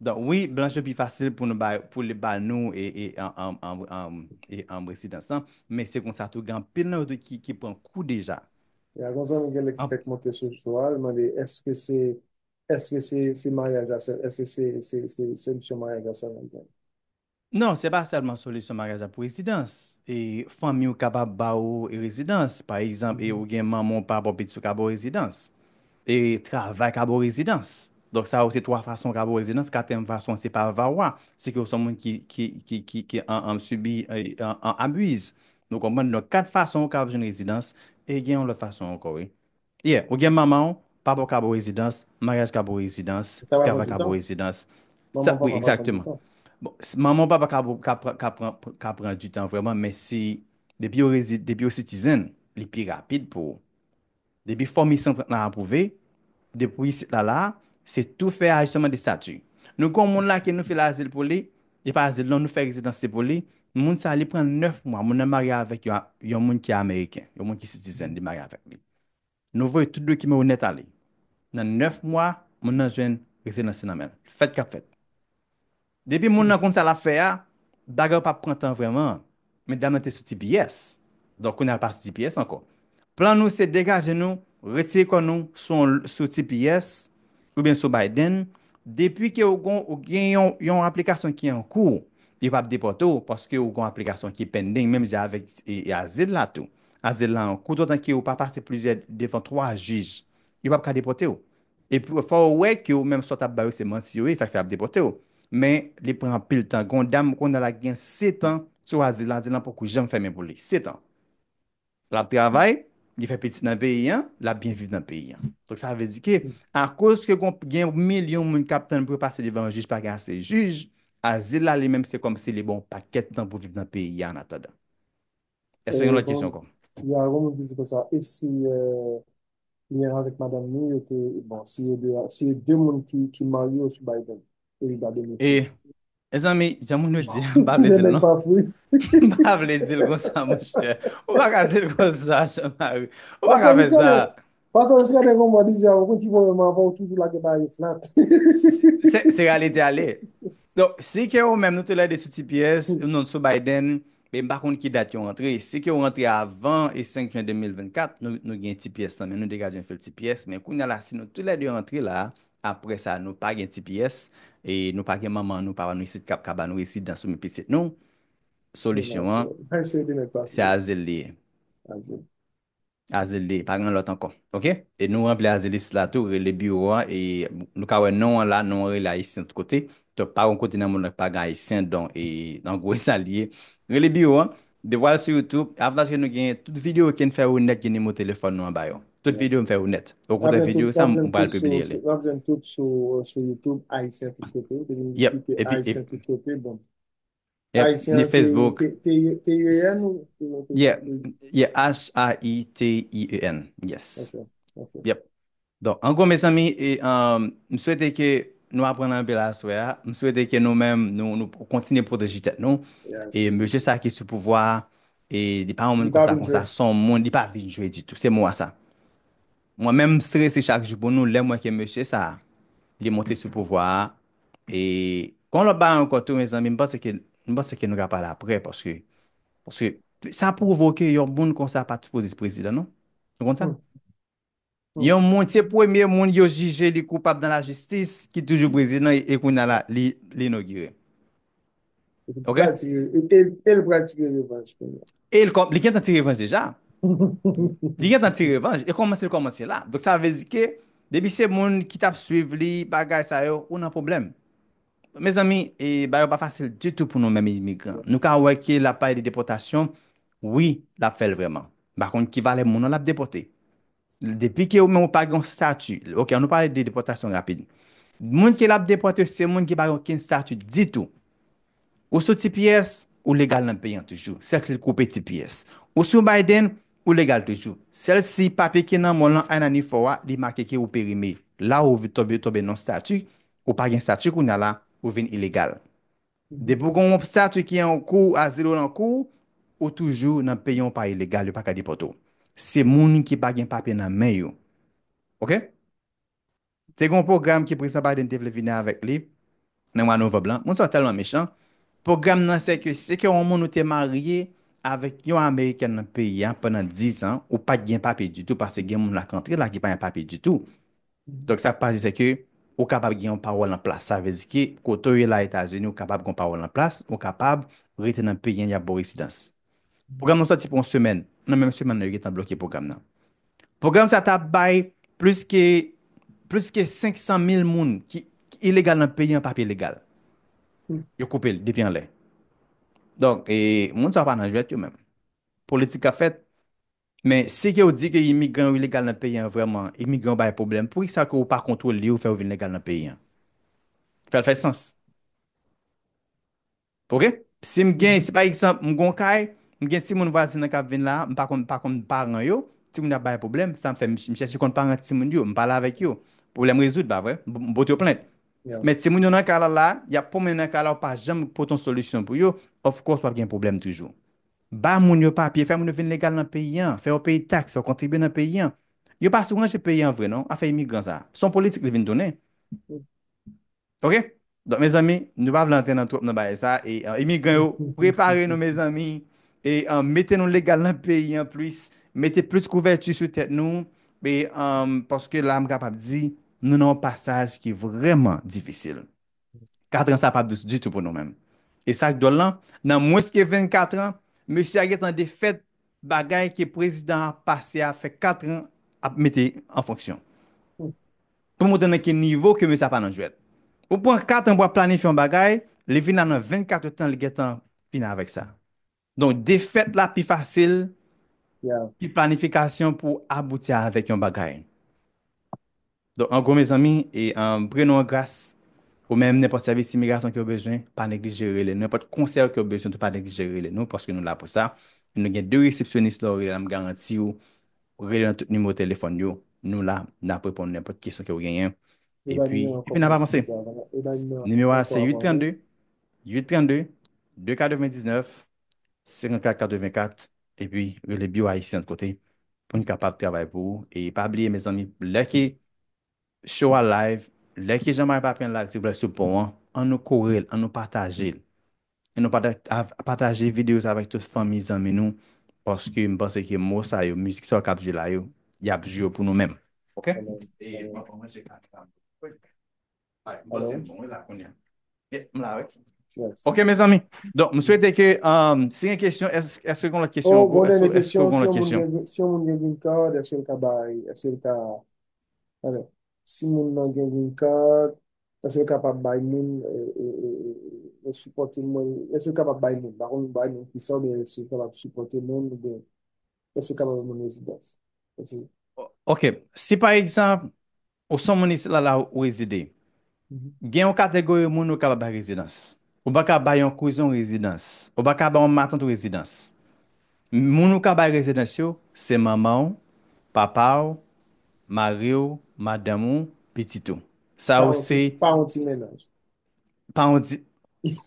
Donk wi blanch yo pi fasil pou nou bay pou li ba nou e residans lan men se konsa tou gen anpil nan yo tou ki pran kou deja. Y a gon zanmi genlè ki fèk monte sou cho a li mande eske se eske se se maryaj la sèl eske se se se solisyon maryaj la sèlman li jwenn. Non, se pa sèlman solisyon maryaj ak rezidans. E fanmi w kapab ba ou rezidans. Pa egzanp, e ou gen manman ou papa ou pitit ou ka ba ou rezidans. E travay ka ba ou rezidans. Donk sa yo se twa fason ka ba ou rezidans. Katriyèm fason an se pa VAWA. Se ke ou se yon moun ki ki an sibi an abuse. Nou konprann? Donk kat fason ou kapab jwenn rezidans. E gen yon lòt fason ankò wi. Yeah, ou gen manmanw, papaw ka bo rezidans, maryaj ka bo rezidans, Sa pa pran kava ka bo toutan. rezidans. Sa, Manman wi, papa pa pran exactement. toutan. Bon, s- manman ou papa ka bo- ka pran ka pran ka pran du tan vreman, men si depi yo rezi depi yo citizen, li pi rapid pou ou. Depi fòm I-130 lan apwouve, depi isit la la, se tou fè ajisman de stati. Nou kon moun la ke nou fil azil pou li, Li pa dil non nou fè rezidans se pou li, moun sa li pran 9 mwa moun nan marye avèk yon moun ki ameriken, yon moun ki citizen li marye avèk li. Nou voye tout dokiman yo nèt ale. Nan 9 mwa moun nan jwenn rezidans li nan menl. Fèt kap fèt. Depi moun nan konn sa lap fè a, bagay yo pa pran tan vrèman. Medam nan te sou tps, donk kounye a l pa sou tps ankò. Plan nou se degaje nou, retire kò nou sou tps oubyen sou Biden, depi ke ou gen yon aplikasyon ki an kou, yo p ap depòte w paske ou gen yon aplikasyon ki pending menm jan avèk azil la tou. Azil la an kou, dotan ke ou pa pase plizyè devan 3 jij, yo p ap ka depòte w. Epi fò ou wè ke ou menm sa w tap ba yo se manti yo ye sak fè yap depòte w. Men li pran anpil tan gen yon dam kounye a la ki gen 7 an sou azil la azil lan poko janm fèmen pou li 7 an lap travay li fè pitit nan peyi an lap byen viv nan peyi an donk sa vle di ke akoz ke gon gen milyon moun kap tann pou yo pase devan jij pa gen ase jij azil la li menm se kòmsi li ba w pakèt tan pou viv nan peyi a an atandan. Èske gen lòt kesyon ankò? Ya gen yon moun ki di konsa, e si li menm avèk madanm ni yo te, bon, si yo 2 a, si e 2 moun ki ki marye yo sou Biden, e li ta beni tou? E, mezanmi, jan moun yo di a, m pa vle di l non. M pa vle di l konsa monchè. Ou pa ka di l konsa, Jean Marie. Ou pa ka fè sa. Pase ou srete kon mwen bizè, ou konn ki pwoblèm mwen avè ou toujou lage bagay yo flat. Se, se reyalite a li. Donk, si ke ou menm nou tou lè 2 sou tps, ou non sou Biden, e m pa konn ki dat yo rantre, si ke ou rantre avan e 5 jen 2024, nou, nou gen tps nan men nou, degaje yon fil tps, men kounya la si nou tou lè 2 rantre la, aprè sa nou pa gen tps, e nou pa gen manman nou, papa nou isit kap ka ba nou rezidans ou byen pitit nou, solisyon an, se azil li ye. Azelde pa gen lòt ankò ok e nou ranpli azelis la tou rele biwo an e nou ka wè non an la non an rele ayisyen tout kote donk pa gon kote nan mond lan ki pa gen ayisyen donk e an gwo e sa li ye rele biwo an depi wal sou youtube avantaj ke nou genyen tout videyo ken fè ou nèt gen nimero telefòn nou anba yo tout videyo m fè yo nèt ou konprann videyo sa m pral pibliye li. Wap jwenn tout sou youtube ayisyen tout kote depi m klike ayisyen tout kote bon. Ni Facebook. T-I-E-N ou? Yeah, yeah, H-A-I-T-I-E-N, yes. Yep. Don, an gwo mezanmi, m swete ke nou aprann anpil aswè a, m swete ke nou menm nou kontinye pwoteje tèt nou, e mesye sa ki sou pouvwa a, e li pa yon moun konsa konsa, son moun, li pa vin jwe ditou, se mou a sa. Mwen menm m strese chak jou pou nou lèm wè ke mesye sa li monte sou pouvwa a e gon lòt bagay ankò tou mezanmi m panse ke m panse ke nou ka pale aprè paske paske sa pwouve w ke yon moun konsa pat sipoze prezidan non nou konn sa yon moun se premye moun yo jije li koupab nan lajistis ki toujou prezidan e kounya la li inogire. Ok? E l pral tire revanj pou nou. E l kòm, li gentan tire revanj deja. Li gentan tire revanj, e kòmanse l kòmanse la. Donk sa vle di ke, depi se moun ki t ap swiv li, bagay sa yo, ou nan pwoblèm. Mezanmi, e bagay yo pa fasil ditou pou nou menm imigran. Nou ka wè ke l ap pale de depòtasyon, wi, l ap fè l vrèman. M pa konn ki valè moun an l ap depòte. Depi ke ou menm ou pa gen yon stati, ok an nou pale de depòtasyon rapid. Moun ke lap depòte yo se moun ki pa gen okenn stati ditou. Ou sou tps, ou legal nan peyi an toujou, sèl si l koupe tps. Ou sou Biden, ou legal toujou, sèl si papye ki nan men w lan INA ni fò a li make ke ou perime. La ou tonbe nan stati, ou pa gen stati kounya la, ou vin ilegal. Depi ou gen yon obstati ki an kou, azil ou lan kou ou, ou toujou nan peyi yon pa ilegal yo paka depòte ou. Se moun ki pa gen papye nan men yo. Ok? Te gen yon pwogram ke Prezidan Biden te vle vini avèk li nan mwa Novanb lan. Moun sa yo tèlman mechan. Pwogram nan se ke si ke yon moun ou te marye avèk yon amerikèn nan peyi a pandan 10 an, ou pat gen papye ditou paske gen moun la k antre la ki pa gen papye ditou. Donk sa k pase se ke ou kapab gen yon pawòl an plas. Sa vle di ke kote w ye la Etazini, ou kapab gen yon pawòl an plas, ou kapab rete nan peyi an y ap ba w residans. Pwogram nan sòti pou yon semèn, nan menm semèn nan yo gentan bloke pwogram nan. Pwogram sa ta bay plis ke plis ke 500 mil moun ki ilegal nan peyi an papye legal. Yo koupe l depi anlè. Donk e moun sa yo pa nan jwèt yo menm. Politik k ap fèt Men si ke ou di ke imigran yo ilegal nan peyi an vrèman, imigran yo bay pwoblèm, poukisa ke ou pa kontwole yo fè yo vin legal nan peyi an? Fè l fè sans. Ok? Si m gen, si pa egzanp m gen yon kay, m gen timoun vwazen an k ap vin la a, m pa konn, m pa konn paran yo, timoun yo ap bay pwoblèm, sa m fè? M chèche konn paran timoun yo, m pale avèk yo, pwoblèm rezoud, pa vre? M pote yo plent. Men timoun yo nan kay la la a, y ap pwomennen nan kay la, ou pa janm pote yon solisyon pou yo, of course w ap gen pwoblèm toujou. Ba moun yo papye, fè moun yo vin legal nan peyi an, fè yo peye taks, fè yo kontribye nan peyi an. Yo pa sou ranje peyi an vre non, afè imigran sa. Se yon politik li vin tounen. Ok? Donk mezanmi, nou pa vle antre nan twòp nan bagay sa e imigran yo, prepare nou mezanmi e mete nou legal nan peyi an plis, mete plis kouvèti sou tèt nou e paske la m kapab di nou nan yon pasaj ki vrèman difisil. Katran sa pap dous ditou pou nou menm. E sak dwòl lan, nan mwens ke 24 an, mesye a gentan defèt bagay ke prezidan an pase a fè 4 an ap mete an fonksyon. Pou montre nan ki nivo ke mesye a pa nan jwèt. Ou pran 4 an pou ap planifye yon bagay, li vin la nan 24 tan li gentan fini avèk sa. Donk defèt la pi fasil ke planifikasyon pou abouti avèk yon bagay. Donk an gwo mezanmi e pre nou an gras ou menm nenpòt sèvis imigrasyon kew bezwen pa neglije rele nou nenpòt konsèy kew bezwen tou pa neglije rele nou paske nou la pou sa e nou gen 2 resepsyonis lèw rele la m garantiw rele nan tout nimewo telefòn yo nou la nap reponn nenpòt kesyon kew genyen epi epi nap avanse nimewo a se 8 32. 832 299 5484 epi rele biwo Ayisyen lòt kote pou n kapab travay pou ou e pa bliye mezanmi lè ke show a live lè ke Jean Marie Papin live silvouplè sou pon an an nou kore l an nou pataje l an nou pataje videyo sa avèk tout fanmi zanmi nou paske m panse ke mo sa yo mizik sa yo k ap jwe la yo y ap jwe yo pou nou menm ok e m ap pran manje ak Ok mezanmi Donk m swete ke Si gen kesyon Eske gen lòt kesyon Oh bon dènye kesyon Si yon moun gen green card Eske l ka bay Eske l ka Alò Si moun nan gen green card Eske l kapab bay moun Yo sipòte moun Eske l kapab bay moun M pa konn bay moun ki sa oubyen eske l kapab sipòte moun oubyen Eske l kapab bay moun rezidans Ok Si pa egzanp Ou son moun isit la la ou rezide. Gen yon kategori moun ou kaba bay rezidans. Ou pa ka bay yon kouzen w rezidans. Ou pa ka bay yon matant w rezidans. Moun ou ka bay rezidans yo, se manman w, papa w, mari w, madanm ou, pitit ou. Sa yo se. Pa yon ti mennaj. Pa yon ti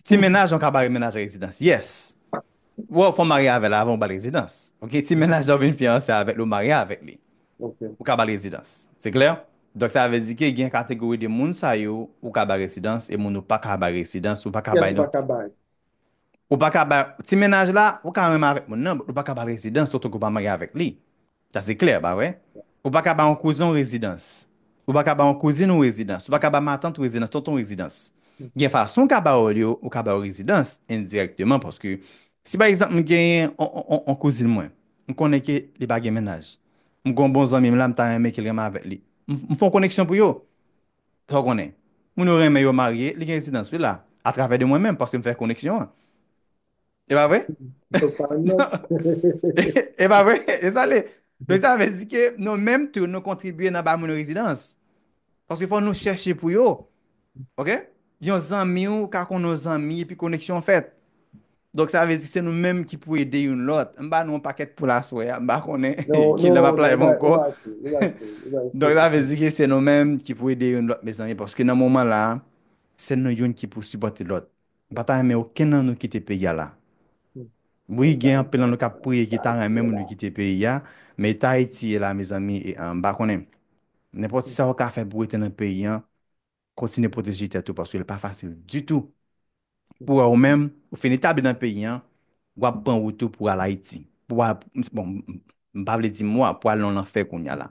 Ti mennaj yon kabare mennaj rezidans Yes Wè w fò w marye avè l avan ou ba l rezidans Ok ti mennaj lè w vin fiyanse avè l ou marye avèk li Ou ka ba l rezidans Se klè? Donk sa vle di ke gen kategori de moun sa yo ou ka ba rezidans e moun ou pa ka bay rezidans ou pa ka bay Kiyès ou pa ka bay? Ou pa ka bay Ti mennaj la ou ka renmen avèk moun nan but ou pa ka ba l rezidans otanke ou pa marye avèk li Sa se klè, pa vre? Ou pa ka ba yon kouzen w rezidans. Ou pa ka ba yon kouzin ou rezidans. Ou pa ka ba matant ou rezidans, tonton w rezidans. Gen fason w ka ba yo l yo, ou ka ba yo rezidans endirèkteman paske si pa egzanp m genyen yon kouzin mwen, m konnen ke li pa gen mennaj. M gen yon bon zanmi m la m ta renmen ke l renmen avèk li. M fè yon koneksyon pou yo. Sa w konnen? Moun yo renmen yo marye, li gen rezidans li la. Atravè de mwen menm paske m fè koneksyon an. E pa vre? Ou pa an nos. E pa vre? E sa le? Don sa vle di ke nou menm tou nou kontribye nan ba moun rezidans. Paske fò nou chèche pou yo. Ok? Yon zanmi ou ka konn yon zanmi epi koneksyon fèt. Donk sa vle di se nou menm ki pou ede youn lòt. M ba nou yon pakèt poul aswè a. M pa konnen ki lè m ap live ankò. Donk sa vle di ke se nou menm ki pou ede youn lòt mezanmi. Paske nan moman la, se nou youn ki pou sipòte lòt. M pa ta renmen okenn nan nou kite peyi a la. Wi gen anpil nan nou kap priye ki ta renmen moun yo kite peyi a, men eta Ayiti ye la mezanmi m pa konnen. Nenpòt sa ou ka fè pou rete nan peyi an, kontinye pwoteje tèt ou paske li pa fasil ditou pou wè ou menm ou fin etabli nan peyi an, wap pran wout ou pou al Ayiti, pou al bon m pa vle di mwa pou al nan lanfè kounya la.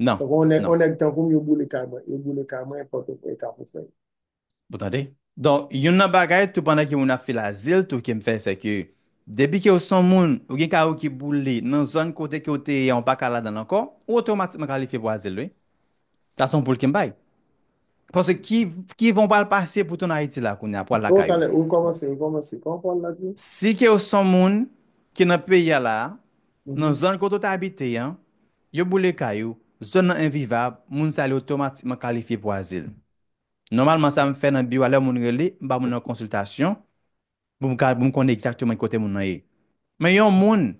Nan. Poko on on nèg tankou m yo boule kay mwen, yo boule kay mwen pòto e kafou fèy. Ou tande? Donk youn nan bagay tou pandan ke moun ap fil azil tou ke m fè se ke depi ke ou son moun ou gen kay ou ki boule nan zòn kote ke ou te ye a ou pa ka ladanl ankò ou otomatikman kalifye pou azil wi. Sa son poul ke m bay. Paske ki ki van ou pral pase pou tounen Ayiti la kounya pou al Oh lakay ou? talè rekòmanse rekòmanse kòman pawòl la di? Si ke ou son moun ki nan peyi a la a nan zòn kote ou te abite an Yo boule kay ou, zòn nan envivab, moun sa yo otomatikman kalifye pou azil. Nòmalman sa m fè nan biwo a lè moun rele, m ba moun nan konsiltasyon pou m ka pou m konnen egzakteman ki kote moun nan ye. Men yon moun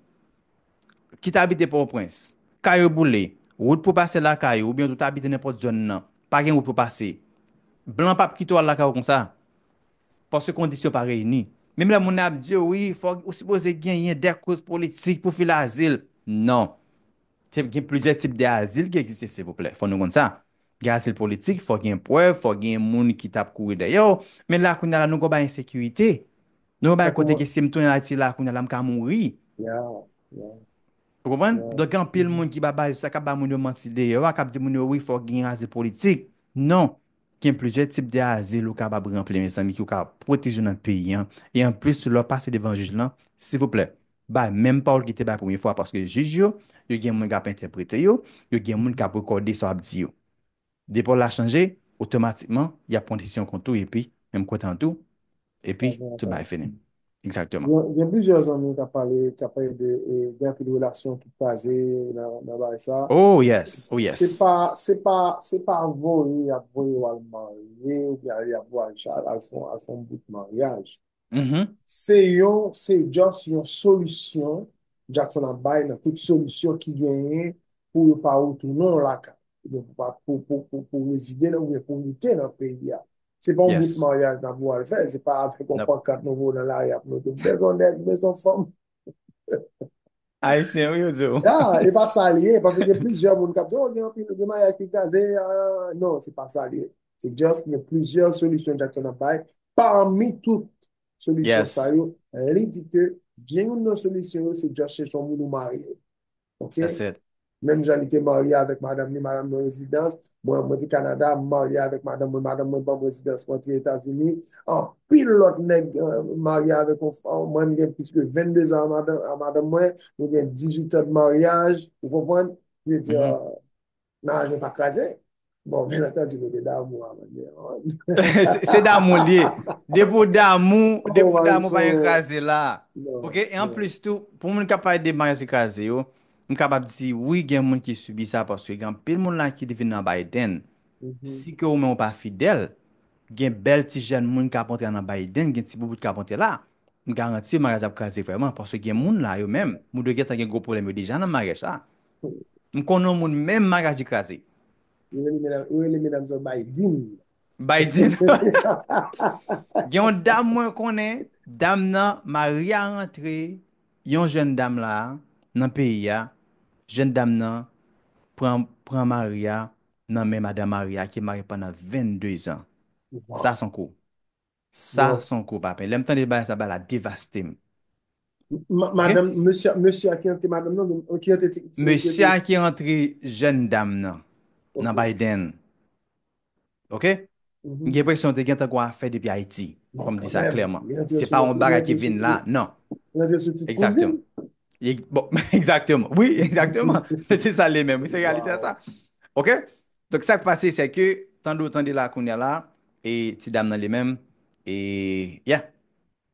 ki t abite Pòtoprens, kay yo boule, wout pou pase lakay ou oubyen tou t abite nenpòt zòn nan, pa gen wout pou pase, blan pa p kite w al lakay ou konsa. Paske kondisyon pa reyini. Menm lè moun nan ap di yo wi fòk ou sipoze genyen de koz politik pou file azil. Non. Se gen plizyè tip de azil ki egziste silvouplè. Fò nou konn sa. Gen azil politik, fò gen prèv, fò gen moun ki tap kouri dèyè w. Men la kounya la nou gon bagay ensekirite. Nou gon bagay kote ke si m tounen Ayiti la kounya la m ka mouri. Ou konprann? Donk gen anpil moun ki ba baz sa kap ba moun yo manti deyò a, kap di moun yo wi fòk gen azil politik. Non. Gen plizyè tip de azil ou kapab ranpli mezanmi ki ou ka pwoteje ou nan peyi an e anplis lè w pase devan jij lan silvouplè bay menm pawòl ki te bay premye fwa paske jij yo yo gen moun kap entèprete yo yo gen moun kap rekòde sa wap di yo depi w la chanje otomatikman yap pran desizyon kont ou epi menm kontan tou E pi, tout bagay fini. Exactement. Gen plizyè zanmi kap pale, kap pale de, gen anpil relasyon ki kraze nan bagay sa. Oh yes, oh yes. Se pa, se pa, se pa voye yap voye wal marye ou byen yap voye al fon, al fon bout maryaj. Se yon, se just yon solisyon Jackson ap bay nan tout solisyon ki genyen pou yo pa retounen lakay. Pou, pou, pou rezide nan, pou rete nan peyi a. Se pa yon bout maryaj nan pou al fè, se pa ap fè kon pon kat nou vou nan la yap nou. Bezon nèk, bezon fòm. Ayisyen ou yo diyo. Ya, e pa sa liye, pa se gen plizyè moun kap diyo, gen yon pi, gen maryaj ki kaze, non, se pa sa liye. Se just gen plizyè solisyon Jackson ap bay, pami tout solisyon sa yo, li di ke gen yon nan solisyon yo se just chèchon moun ou marye. Ok? That's it. Menm jan li te marye avèk madanm li, madanm mwen rezidans, mwen mwen te Canada, m marye avèk madanm mwen, madanm mwen banm rezidans mwen te Etazini, anpil lòt nèg marye avèk yon fanm, mwen m gen plis ke 22 zan a madanm a madanm mwen, nou gen 18 tan de maryaj, ou konprann? Je veux dire, Maraj mwen pa kraze. Bon, men atan di mwen de damou a mwen de. Se damou li. Depo damou, depo damou pa yon kraze la. Ok, en plus tou, pou mwen kap pale de maraj ki kraze yo, mwen kap ap di, wi gen moun ki subi sa, paske gen anpil moun la ki te vin nan Biden. Si ke ou men ou pa fidèl, gen bèl ti jèn moun kap antre nan Biden, gen ti boubout kap antre la, mwen garanti maraj ap kraze vreman, paske gen moun la yo men, moun yo gen tan gen gwo pwoblèm yo deja nan maraj la. M konnen yon moun menm Maradi kraze. Yo rele medam sa Baydin. Baydin. Gen yon dam mwen konnen, dam nan mari a rantre yon jèn dam la nan peyi a, jèn dam nan pran mari a nan men madan mari a ki marye pandan 22 zan. Sa son kou. Sa son gwo papè. Lèm tande bagay sa bagay la devastem. Madanm mesye mesye a ki antre madanm nan menm ki antre ti mesye. Mesye a ki antre jèn dam nan nan Biden ok m gen presyon te gentan gon afè depi Ayiti fòm di sa klèman se pa yon bagay ki vin la nan li antre sou tit kouzin bon egzakteman wi egzakteman se sa li menm se reyalite a sa ok Donk sak pase sè ke tande w tande la kounya la e ti dam nan li menm e yeah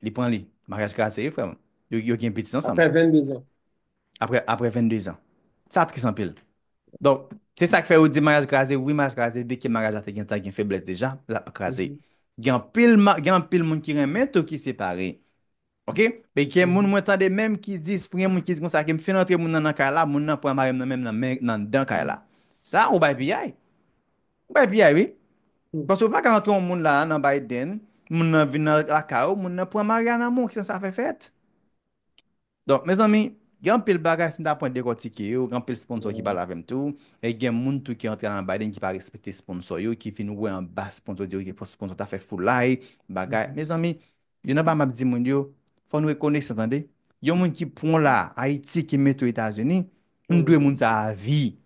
li pran li maryaj kraze wi frè m yo yo gen pitit ansanm Aprè 22 zan. aprè aprè 22 zan sa tris anpil donk se sak fè yo di maryaj kraze wi maryaj kraze deke maryaj la te gentan gen feblès deja lap kraze gen anpil ma gen anpil moun ki renmen tou ki separe Ok e gen moun mwen tande menm ki di pou gen moun ki di konsa ke m fin antre moun nan nan kay la moun nan pran mari m nan menm nan men nan anndan kay la sa ou bay piyay ou bay piyay wi paske ou pa ka antre yon moun la nan Biden moun nan vin nan lakay ou moun nan pran mari a nan men w kijan sa fè fèt donk mezanmi gen anpil bagay si n ta pran dekòtike yo gen anpil sponsò ki pale avè m tou e gen moun tou ki antre la nan Biden ki pa respekte sponsò yo ki fin wè anba sponsò yo di ok sponsò ta fè foulay bagay mezanmi Youn anba map di moun yo, fò nou rekonesan tande, yon moun ki pwan la Ayiti ki mete w Etazini, nou dwe moun sa avi.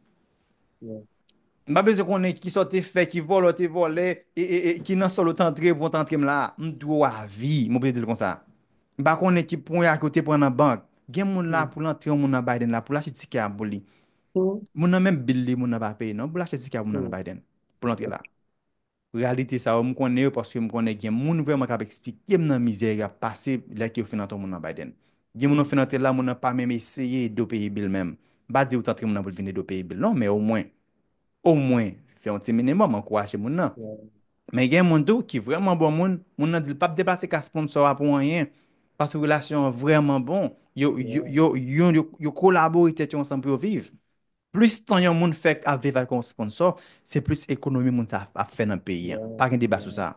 M pa bezwen konnen kisa w te fè, ki vòlè w te vòlè, ki nan sòl ou t antre pou w t antre m la, m dwe w avi, m oblije di l konsa. M pa konnen ki pwan a ke w te pran nan bank, gen moun la pou l antre yon moun nan Biden la pou l achte tikè a pou li, moun nan menm bil li moun nan pa peye non pou l achte tikè a pou moun nan nan Biden pou l antre la. Reyalite sa yo, m konnen yo paske m konnen gen moun vrèman k ap eksplike m nan mizè yo ap pase lè ke yo fin antre w moun nan Biden. Gen moun ou fin antre l la, moun nan pa menm eseye ede w peye bil menm. M pa di ou t antre moun nan pou l vin ede w peye bil non, men omwen, omwen fè yon ti minimòm, ankouraje moun nan. Men gen moun tou ki vrèman bon moun, moun nan di l pa p deplase ka sponsò a pou anyen, paske relasyon an vrèman bon, yo, yo, yo, yo kolabore tèt yo ansanm pou yo viv. Plis tan yon moun fè ap viv ak yon sponsò, se plis ekonomi moun sa ap fè nan peyi an. Pa gen deba sou sa.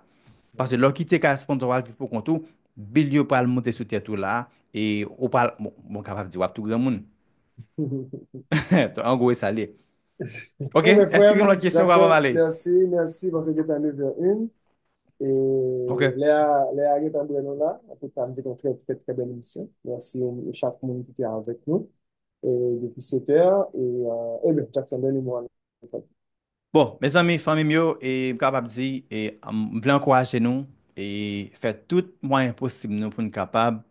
Pase lè w kite kay sponsò w al viv pou kont ou, bil yo pral monte sou tèt ou la e ou pa bon kapab di w ap tou granmoun. An gwo e sa l ye. Ok, èske gen lòt kesyon pa pa pale? Mèsi, mèsi paske gen tan 9 è 1 e lè a gen tan bre nou la. An tou ka m te gen yon trè trè trè bèl emisyon. Mèsi chak moun ki te avèk nou. Depi sete a e e ben chak fèmen li mwa nou fè. Bon mezanmi fanmim yo e m kapab di e m vle ankouraje nou e fè tout mwayen posib nou poun kapab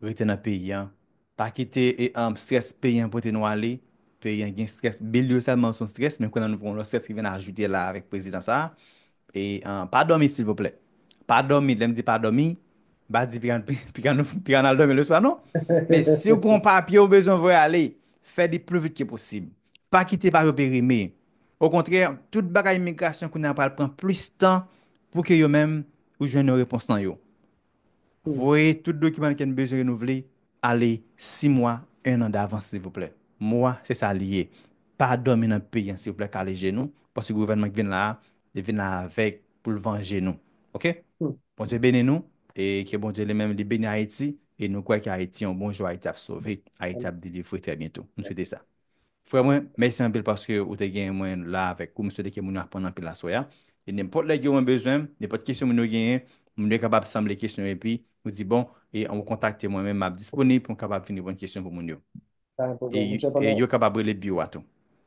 rete nan peyi an pa kite e strès peyi an pote nou ale peyi an gen strès bil yo sèlman son strès men kounye a nou gen yon lòt strès ki vin ajoute la avèk prezidan sa E pa dòmi silvouplè. Pa dòmi, lè m di pa dòmi, m pa di piga n al dòmi leswa non. Men si w gon papye ou bezwen voye ale, fè li plu vit ke posib. Pa kite papye w perime. Okontrè, tout bagay imigrasyon kounye a pral pran plis tan pou ke yo menm ou jwenn yon repons nan yo. Voye tout dokiman n ken bezwen renouvle ale 6 mwa 1 an davans silvouplè mwa se sa li ye pa domi nan peyi an silvouplè kale je nou paske gouvènman ki vin la a li vin la avèg pou l vanje nou ok Bondye beni nou e ke Bondye li menm li beni Ayiti e nou kwè ke Ayiti yon bon jou Ayiti ap sove Ayiti ap delivre trè byento m swete sa. Frè mwen, mèsi anpil paske ou te genyen mwen la avèk ou. M swete ke moun yo aprann anpil aswè a. E nenpòt lè ke mwen bezwen, nenpòt kesyon moun yo genyen, moun yo kapab sanble kesyon yo epi ou di bon, e ou kontakte mwen menm, m ap disponib pou m kapab vin reponn kesyon pou moun yo. Pa gen pwoblèm, monchè. Pandan. E yo kapab rele biwo a tou.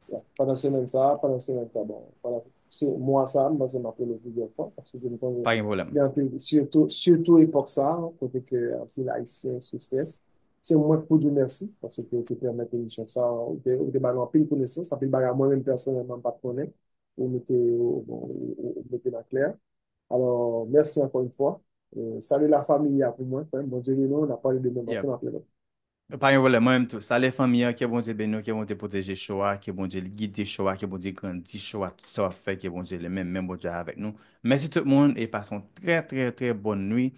Ya. Pandan semèn sa a, pandan semèn sa a, bon, pandan se mwa sa a, m panse m ap rele plizyè fwa paske ke m konnen. Pa gen pwoblèm. Gen anpil, sitou, sitou epòk sa a kote ke anpil Ayisyen sou strès. Se mwen k pou di w mèsi paske ou te pèmèt emisyon sa a, ou te ba nou anpil konesans, anpil bagay mwen menm pèsonèlman m pa t konnen, ou mete yo, ou mete yo nan klè. Alò, mèsi ankò yon fwa. Salye la famille a pou mwen, frè m. Bondye beni w. N ap pale demen maten, m ap rele w. Pa gen pwoblèm, mwen menm tou. Salye fanmi an, ke Bondye beni w, ke Bondye pwoteje show a, ke Bondye gide show a, ke Bondye grandi show a, tout sa w ap fè, ke Bondye li menm, men Bondye avèk nou. Mèsi tout moun e pase yon trè trè trè bòn nuit.